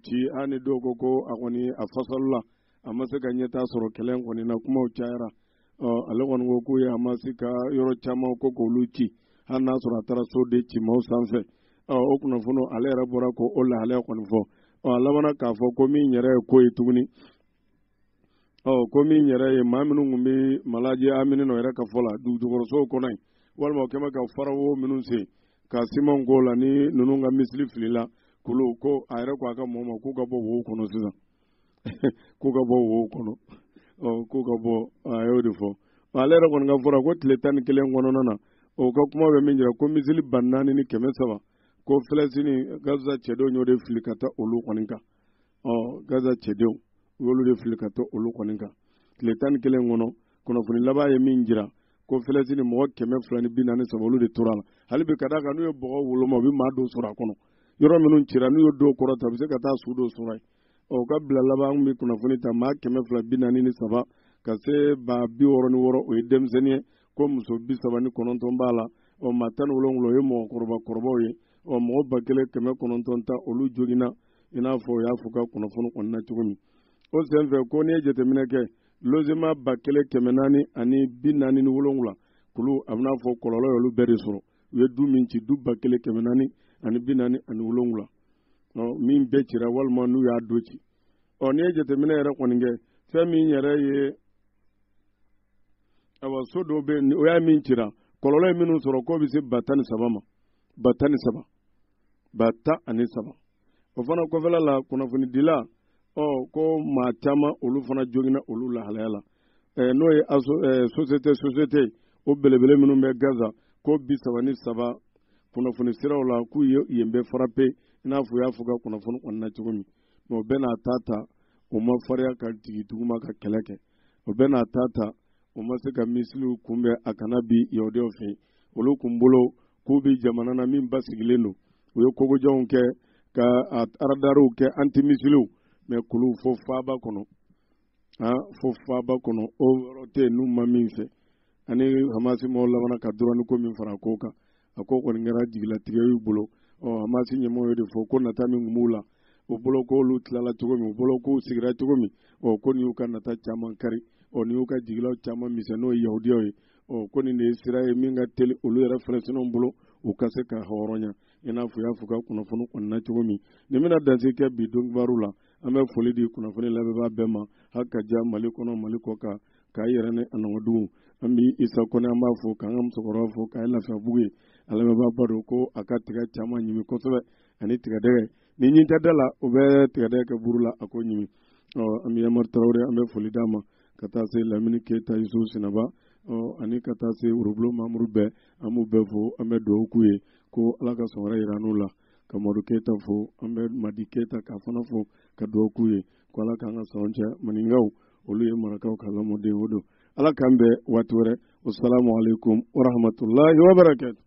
A: ci ani dɔw ko ko a kɔni a fasalila a ma se ka ɲɛtaa sɔrɔ kɛlɛ kɔni na kumaw cayara ɔ ale kɔni ko k'u ye hamasi ka yɔrɔ caman ko k'olu ci hali n'a sɔrɔ a taara so de ci maaw sanfɛ ɔ o kunnafoni ale yɛrɛ bɔra k'o lahalaya kɔni fɔ ɔ a labanna k'a fɔ ko min yɛrɛ ye ko ye tuguni ɔ ko min yɛrɛ ye maa minnu tun bɛ malaji amini nɔ yɛrɛ ka fɔ la dugujukɔrɔsow kɔnɔ yen walima o kɛmɛ ka farawo minnu sen ka simanw k'o la ni ninnu ka misili filila kulu ko a yɛrɛ ko a ka mɔgɔw ma k'u ka bɔ wo kɔnɔ sisan k'u ka bɔ wo kɔnɔ k'u ka bɔ a y'o de fɔ ale yɛrɛ kɔni ka fɔ la ko tile tan ni kelen kɔnɔna na o ka kuma bɛ min jira ko misili ba naani ni kɛmɛ saba ko filɛsini gaza cɛdenw y'o de fili ka taa olu kɔni kan ɔ gaza cɛdenw u y'olu de fili ka taa olu kɔni kan tile tan ni kelen kɔnɔ kunnafoni laban ye min jira ko filɛsini mɔgɔ kɛmɛ fila ni bi naani saba olu de tor'a la hali bi ka d'a kan n'u ye bɔgɔ woloma u bɛ maa dɔw sɔrɔ a kɔnɔ yɔrɔ minnu cira n'u ye dɔw kɔrɔta u bɛ se ka taa su dɔw sɔrɔ yen o ka bilan laban an bɛ kunnafoni ta maa kɛmɛ fila bi naani ni saba ka se ba bi wɔɔrɔ ni wɔɔrɔ o ye denmisɛnnin ye ko muso bi saba ni kɔnɔntɔn b'a la ɔ maa tan ni wolonwula o ye mɔgɔkɔrɔba kɔrɔbaw ye ɔ mɔgɔ ba kelen kɛmɛ kɔnɔntɔn tan olu joginna i n'a fɔ u y'a fɔ ka kunnafoni kɔnɔna cogo min o senfɛ ko n'i ye jateminɛ kɛ logement ba kelen kɛmɛ naani ani bi naani ni wolonwula k'olu a bɛ n'a fɔ kɔlɔlɔ y'olu bɛɛ de sɔrɔ u ye du min ci du ba kelen kɛmɛ naani ani bi naani ani wolonwula min bɛɛ cira walima n'u y'a dɔ ci ɔ n'i ye jateminɛ yɛrɛ kɔni kɛ fɛn min yɛrɛ ye awa so dɔw bɛ yen o y'a min cira kɔlɔlɔ ye minnu sɔrɔ k'o bɛ se ba tan ni saba ma ba tan ni saba ba tan ani saba o fana kɔfɛla la kunnafonidila ɔ ko maa caman olu fana joginna olu lahalaya la n'o ye sosiyete sosiyetew belebele minnu bɛ gaza ko bi saba ni saba kunnafoni siraw la k'u ye yen bɛɛ frappé i n'a fɔ u y'a fɔ ka kunnafoni kɔnɔna cogo min mɛ o bɛɛ n'a ta ta o ma fariya ka jigin duguma ka kɛlɛ kɛ o bɛɛ n'a ta ta o ma se ka misiliw kunbɛn a kana bin yahudiyaw fɛ olu kun bolo k'u bɛ jamana na min basigilen don u ye kogojanw kɛ ka a aradariw kɛ antimisiliw mɛ k'olu fo faaba kɔnɔ a fo faaba kɔnɔ o yɔrɔ tɛ yen n'u ma min fɛ ani hamasi mɔgɔw labanna ka dɔrɔni ko min fara ko kan a ko kɔni kɛra jigilatigɛ y'u bolo ɔ hamasi ɲɛmɔgɔ y'o de fɔ ko nata min tun b'u la u bolo k'olu tilala cogo min u bolo k'u sigira cogo min ɔ ko nin y'u ka nata caman kari ɔ nin y'u ka jigilaw caman misɛn n'o ye yahudiyaw ye ɔ ko nin de ye sira ye min ka teli olu yɛrɛ filɛsiniw bolo u ka se ka hɔrɔnya i n'a fɔ u y'a fɔ ka kunnafoni kɔnɔna cogo min nin bɛna danse kɛ bi donkibaru la an bɛ foli di kunnafoni lamɛnbaa bɛɛ ma hali ka ja mali kɔnɔ mali kɔ kan k'a yɛrɛ ni a nɔgɔdugu an bɛ isa kɔnɛ an b'a fo k'an ka musokɔrɔba fo k'a ye lafiyabugu yen an lamɛnbaaba don ko a ka tiga caman ɲimi kosɛbɛ ani tigadɛgɛ ni ɲin tɛ da la o bɛ tigadɛgɛ kɛ buru la a k'o ɲimi ɔ an bɛ yamari tarawele an bɛ foli d'a ma ka taa se lamini keyita yusu sinaba ani ka taa se worobulon mamuru bɛɛ an b'u bɛɛ fo an bɛ dugawu k'u ye ko ala ka san wɛrɛ jir'an n'u la ka madu keyita fo an bɛ madi keyita k'a fana fo ka dugawu k'u ye ko ala k'an ka sɔn cɛ maninkaw olu ye marakaw ka lamɔdenw don ala k'an bɛn waati wɛrɛ wasalamu aleykum warahmatulahi wabarakatu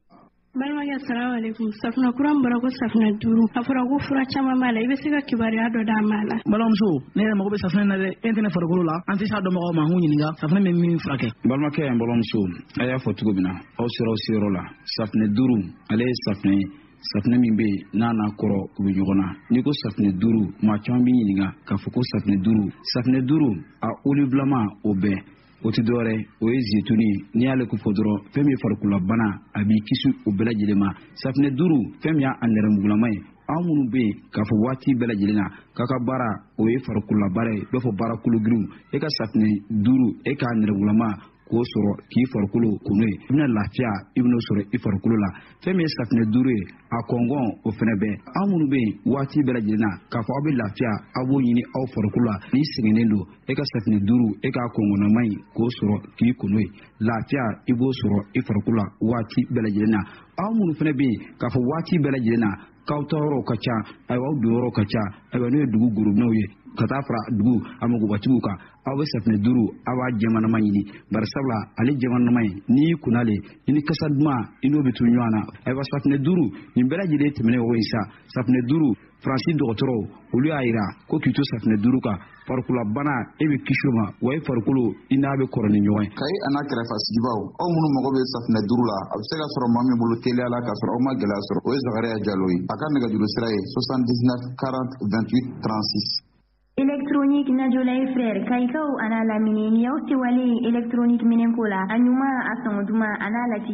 H: Balimakɛ salamu alaikum safunɛ kura min bɔra ko safunɛ duuru a fɔra ko fura caman b'a la i bɛ se ka kibaruya dɔ d'an m'a la balimamuso ne yɛrɛ mago bɛ
I: safunɛ na dɛ e tɛ ne farikolo la an tɛ s'a dɔnbagaw ma an k'u ɲininka safunɛ bɛ min furakɛ balimakɛ ani balimamuso a y'a fɔ cogo min na aw sera aw seyɔrɔ la safunɛ duuru ale ye safunɛ ye safunɛ min bɛ yen n'a n'a kɔrɔ u bɛ ɲɔgɔn na n'i ko safunɛ duuru maa caman b'i ɲininka k'a fɔ ko safunɛ duuru safunɛ duuru a olibulama o bɛɛ o tɛ dɔwɛrɛ o ye zetuni ye n'i y'ale ko fɔ dɔrɔn fɛn min ye farikololabana a b'i kisi o bɛɛ lajɛlen ma safinɛ duuru fɛn min ye a nɛrɛmugulama ye aw minnu bɛ yen k'a fɔ waati bɛɛ lajɛlen na k'a ka baara o ye farikololabaara ye i b'a fɔ baara kologirinw e ka safinɛ duuru e k'a nɛrɛmugulama k'o sɔrɔ k'i farikolo ko n'o ye i bɛna lafiya i bɛn'o sɔrɔ i farikolo la fɛn min ye safinɛ duuru ye a kɔngɔn o fɛnɛ bɛ aw minnu bɛ yen waati bɛɛ lajɛlen na k'a fɔ aw bɛ lafiya aw b'o ɲini aw farikolo la n'i sɛgɛnnen don e ka safinɛ duuru e k'a kɔngɔnnama in k'o sɔrɔ k'i ko n'o ye lafiya i b'o sɔrɔ i farikolo la waati bɛɛ lajɛlen na aw minnu fɛnɛ bɛ yen k'a fɔ waati bɛɛ lajɛlen na k'aw taa yɔrɔw ka ca ayiwa aw don yɔrɔw ka ca ayiwa n'o ye dugu gorobinɛw ye ka taa fara dugu a magobatigiw kan aw bɛ safinɛ duuru aw b'a jɛmanama ɲini bari sabula ale jɛmanama in n'i y'i ko n'ale i ni kasa duman i n'o bɛ to ɲɔgɔn na ayiwa safinɛ duuru nin bɛɛ lajɛlen tɛmɛnen o ye sa safinɛ duuru faransi dɔgɔtɔrɔw olu y'a jira ko k'i to safinɛ duuru kan farikololabana e bɛ kisi o ma wa e farikolo i n'a bɛ kɔrɔ ni ɲɔgɔn ye kayi an'a
J: kɛrɛfɛ sigibaw aw minnu mago bɛ safinɛ duuru la aw bɛ se k'a sɔrɔ maa min bolo teliya la k'a sɔrɔ aw ma gɛlɛya sɔrɔ o ye zakariya jalo ye a ka nɛgɛjuru sira ye 79 40 28 36 Électronique Najolay Frère Kayikaw an'a lamini
K: ni y'aw sewalen ye électronique minɛnko la a ɲuman a sɔngɔ duman an'a lati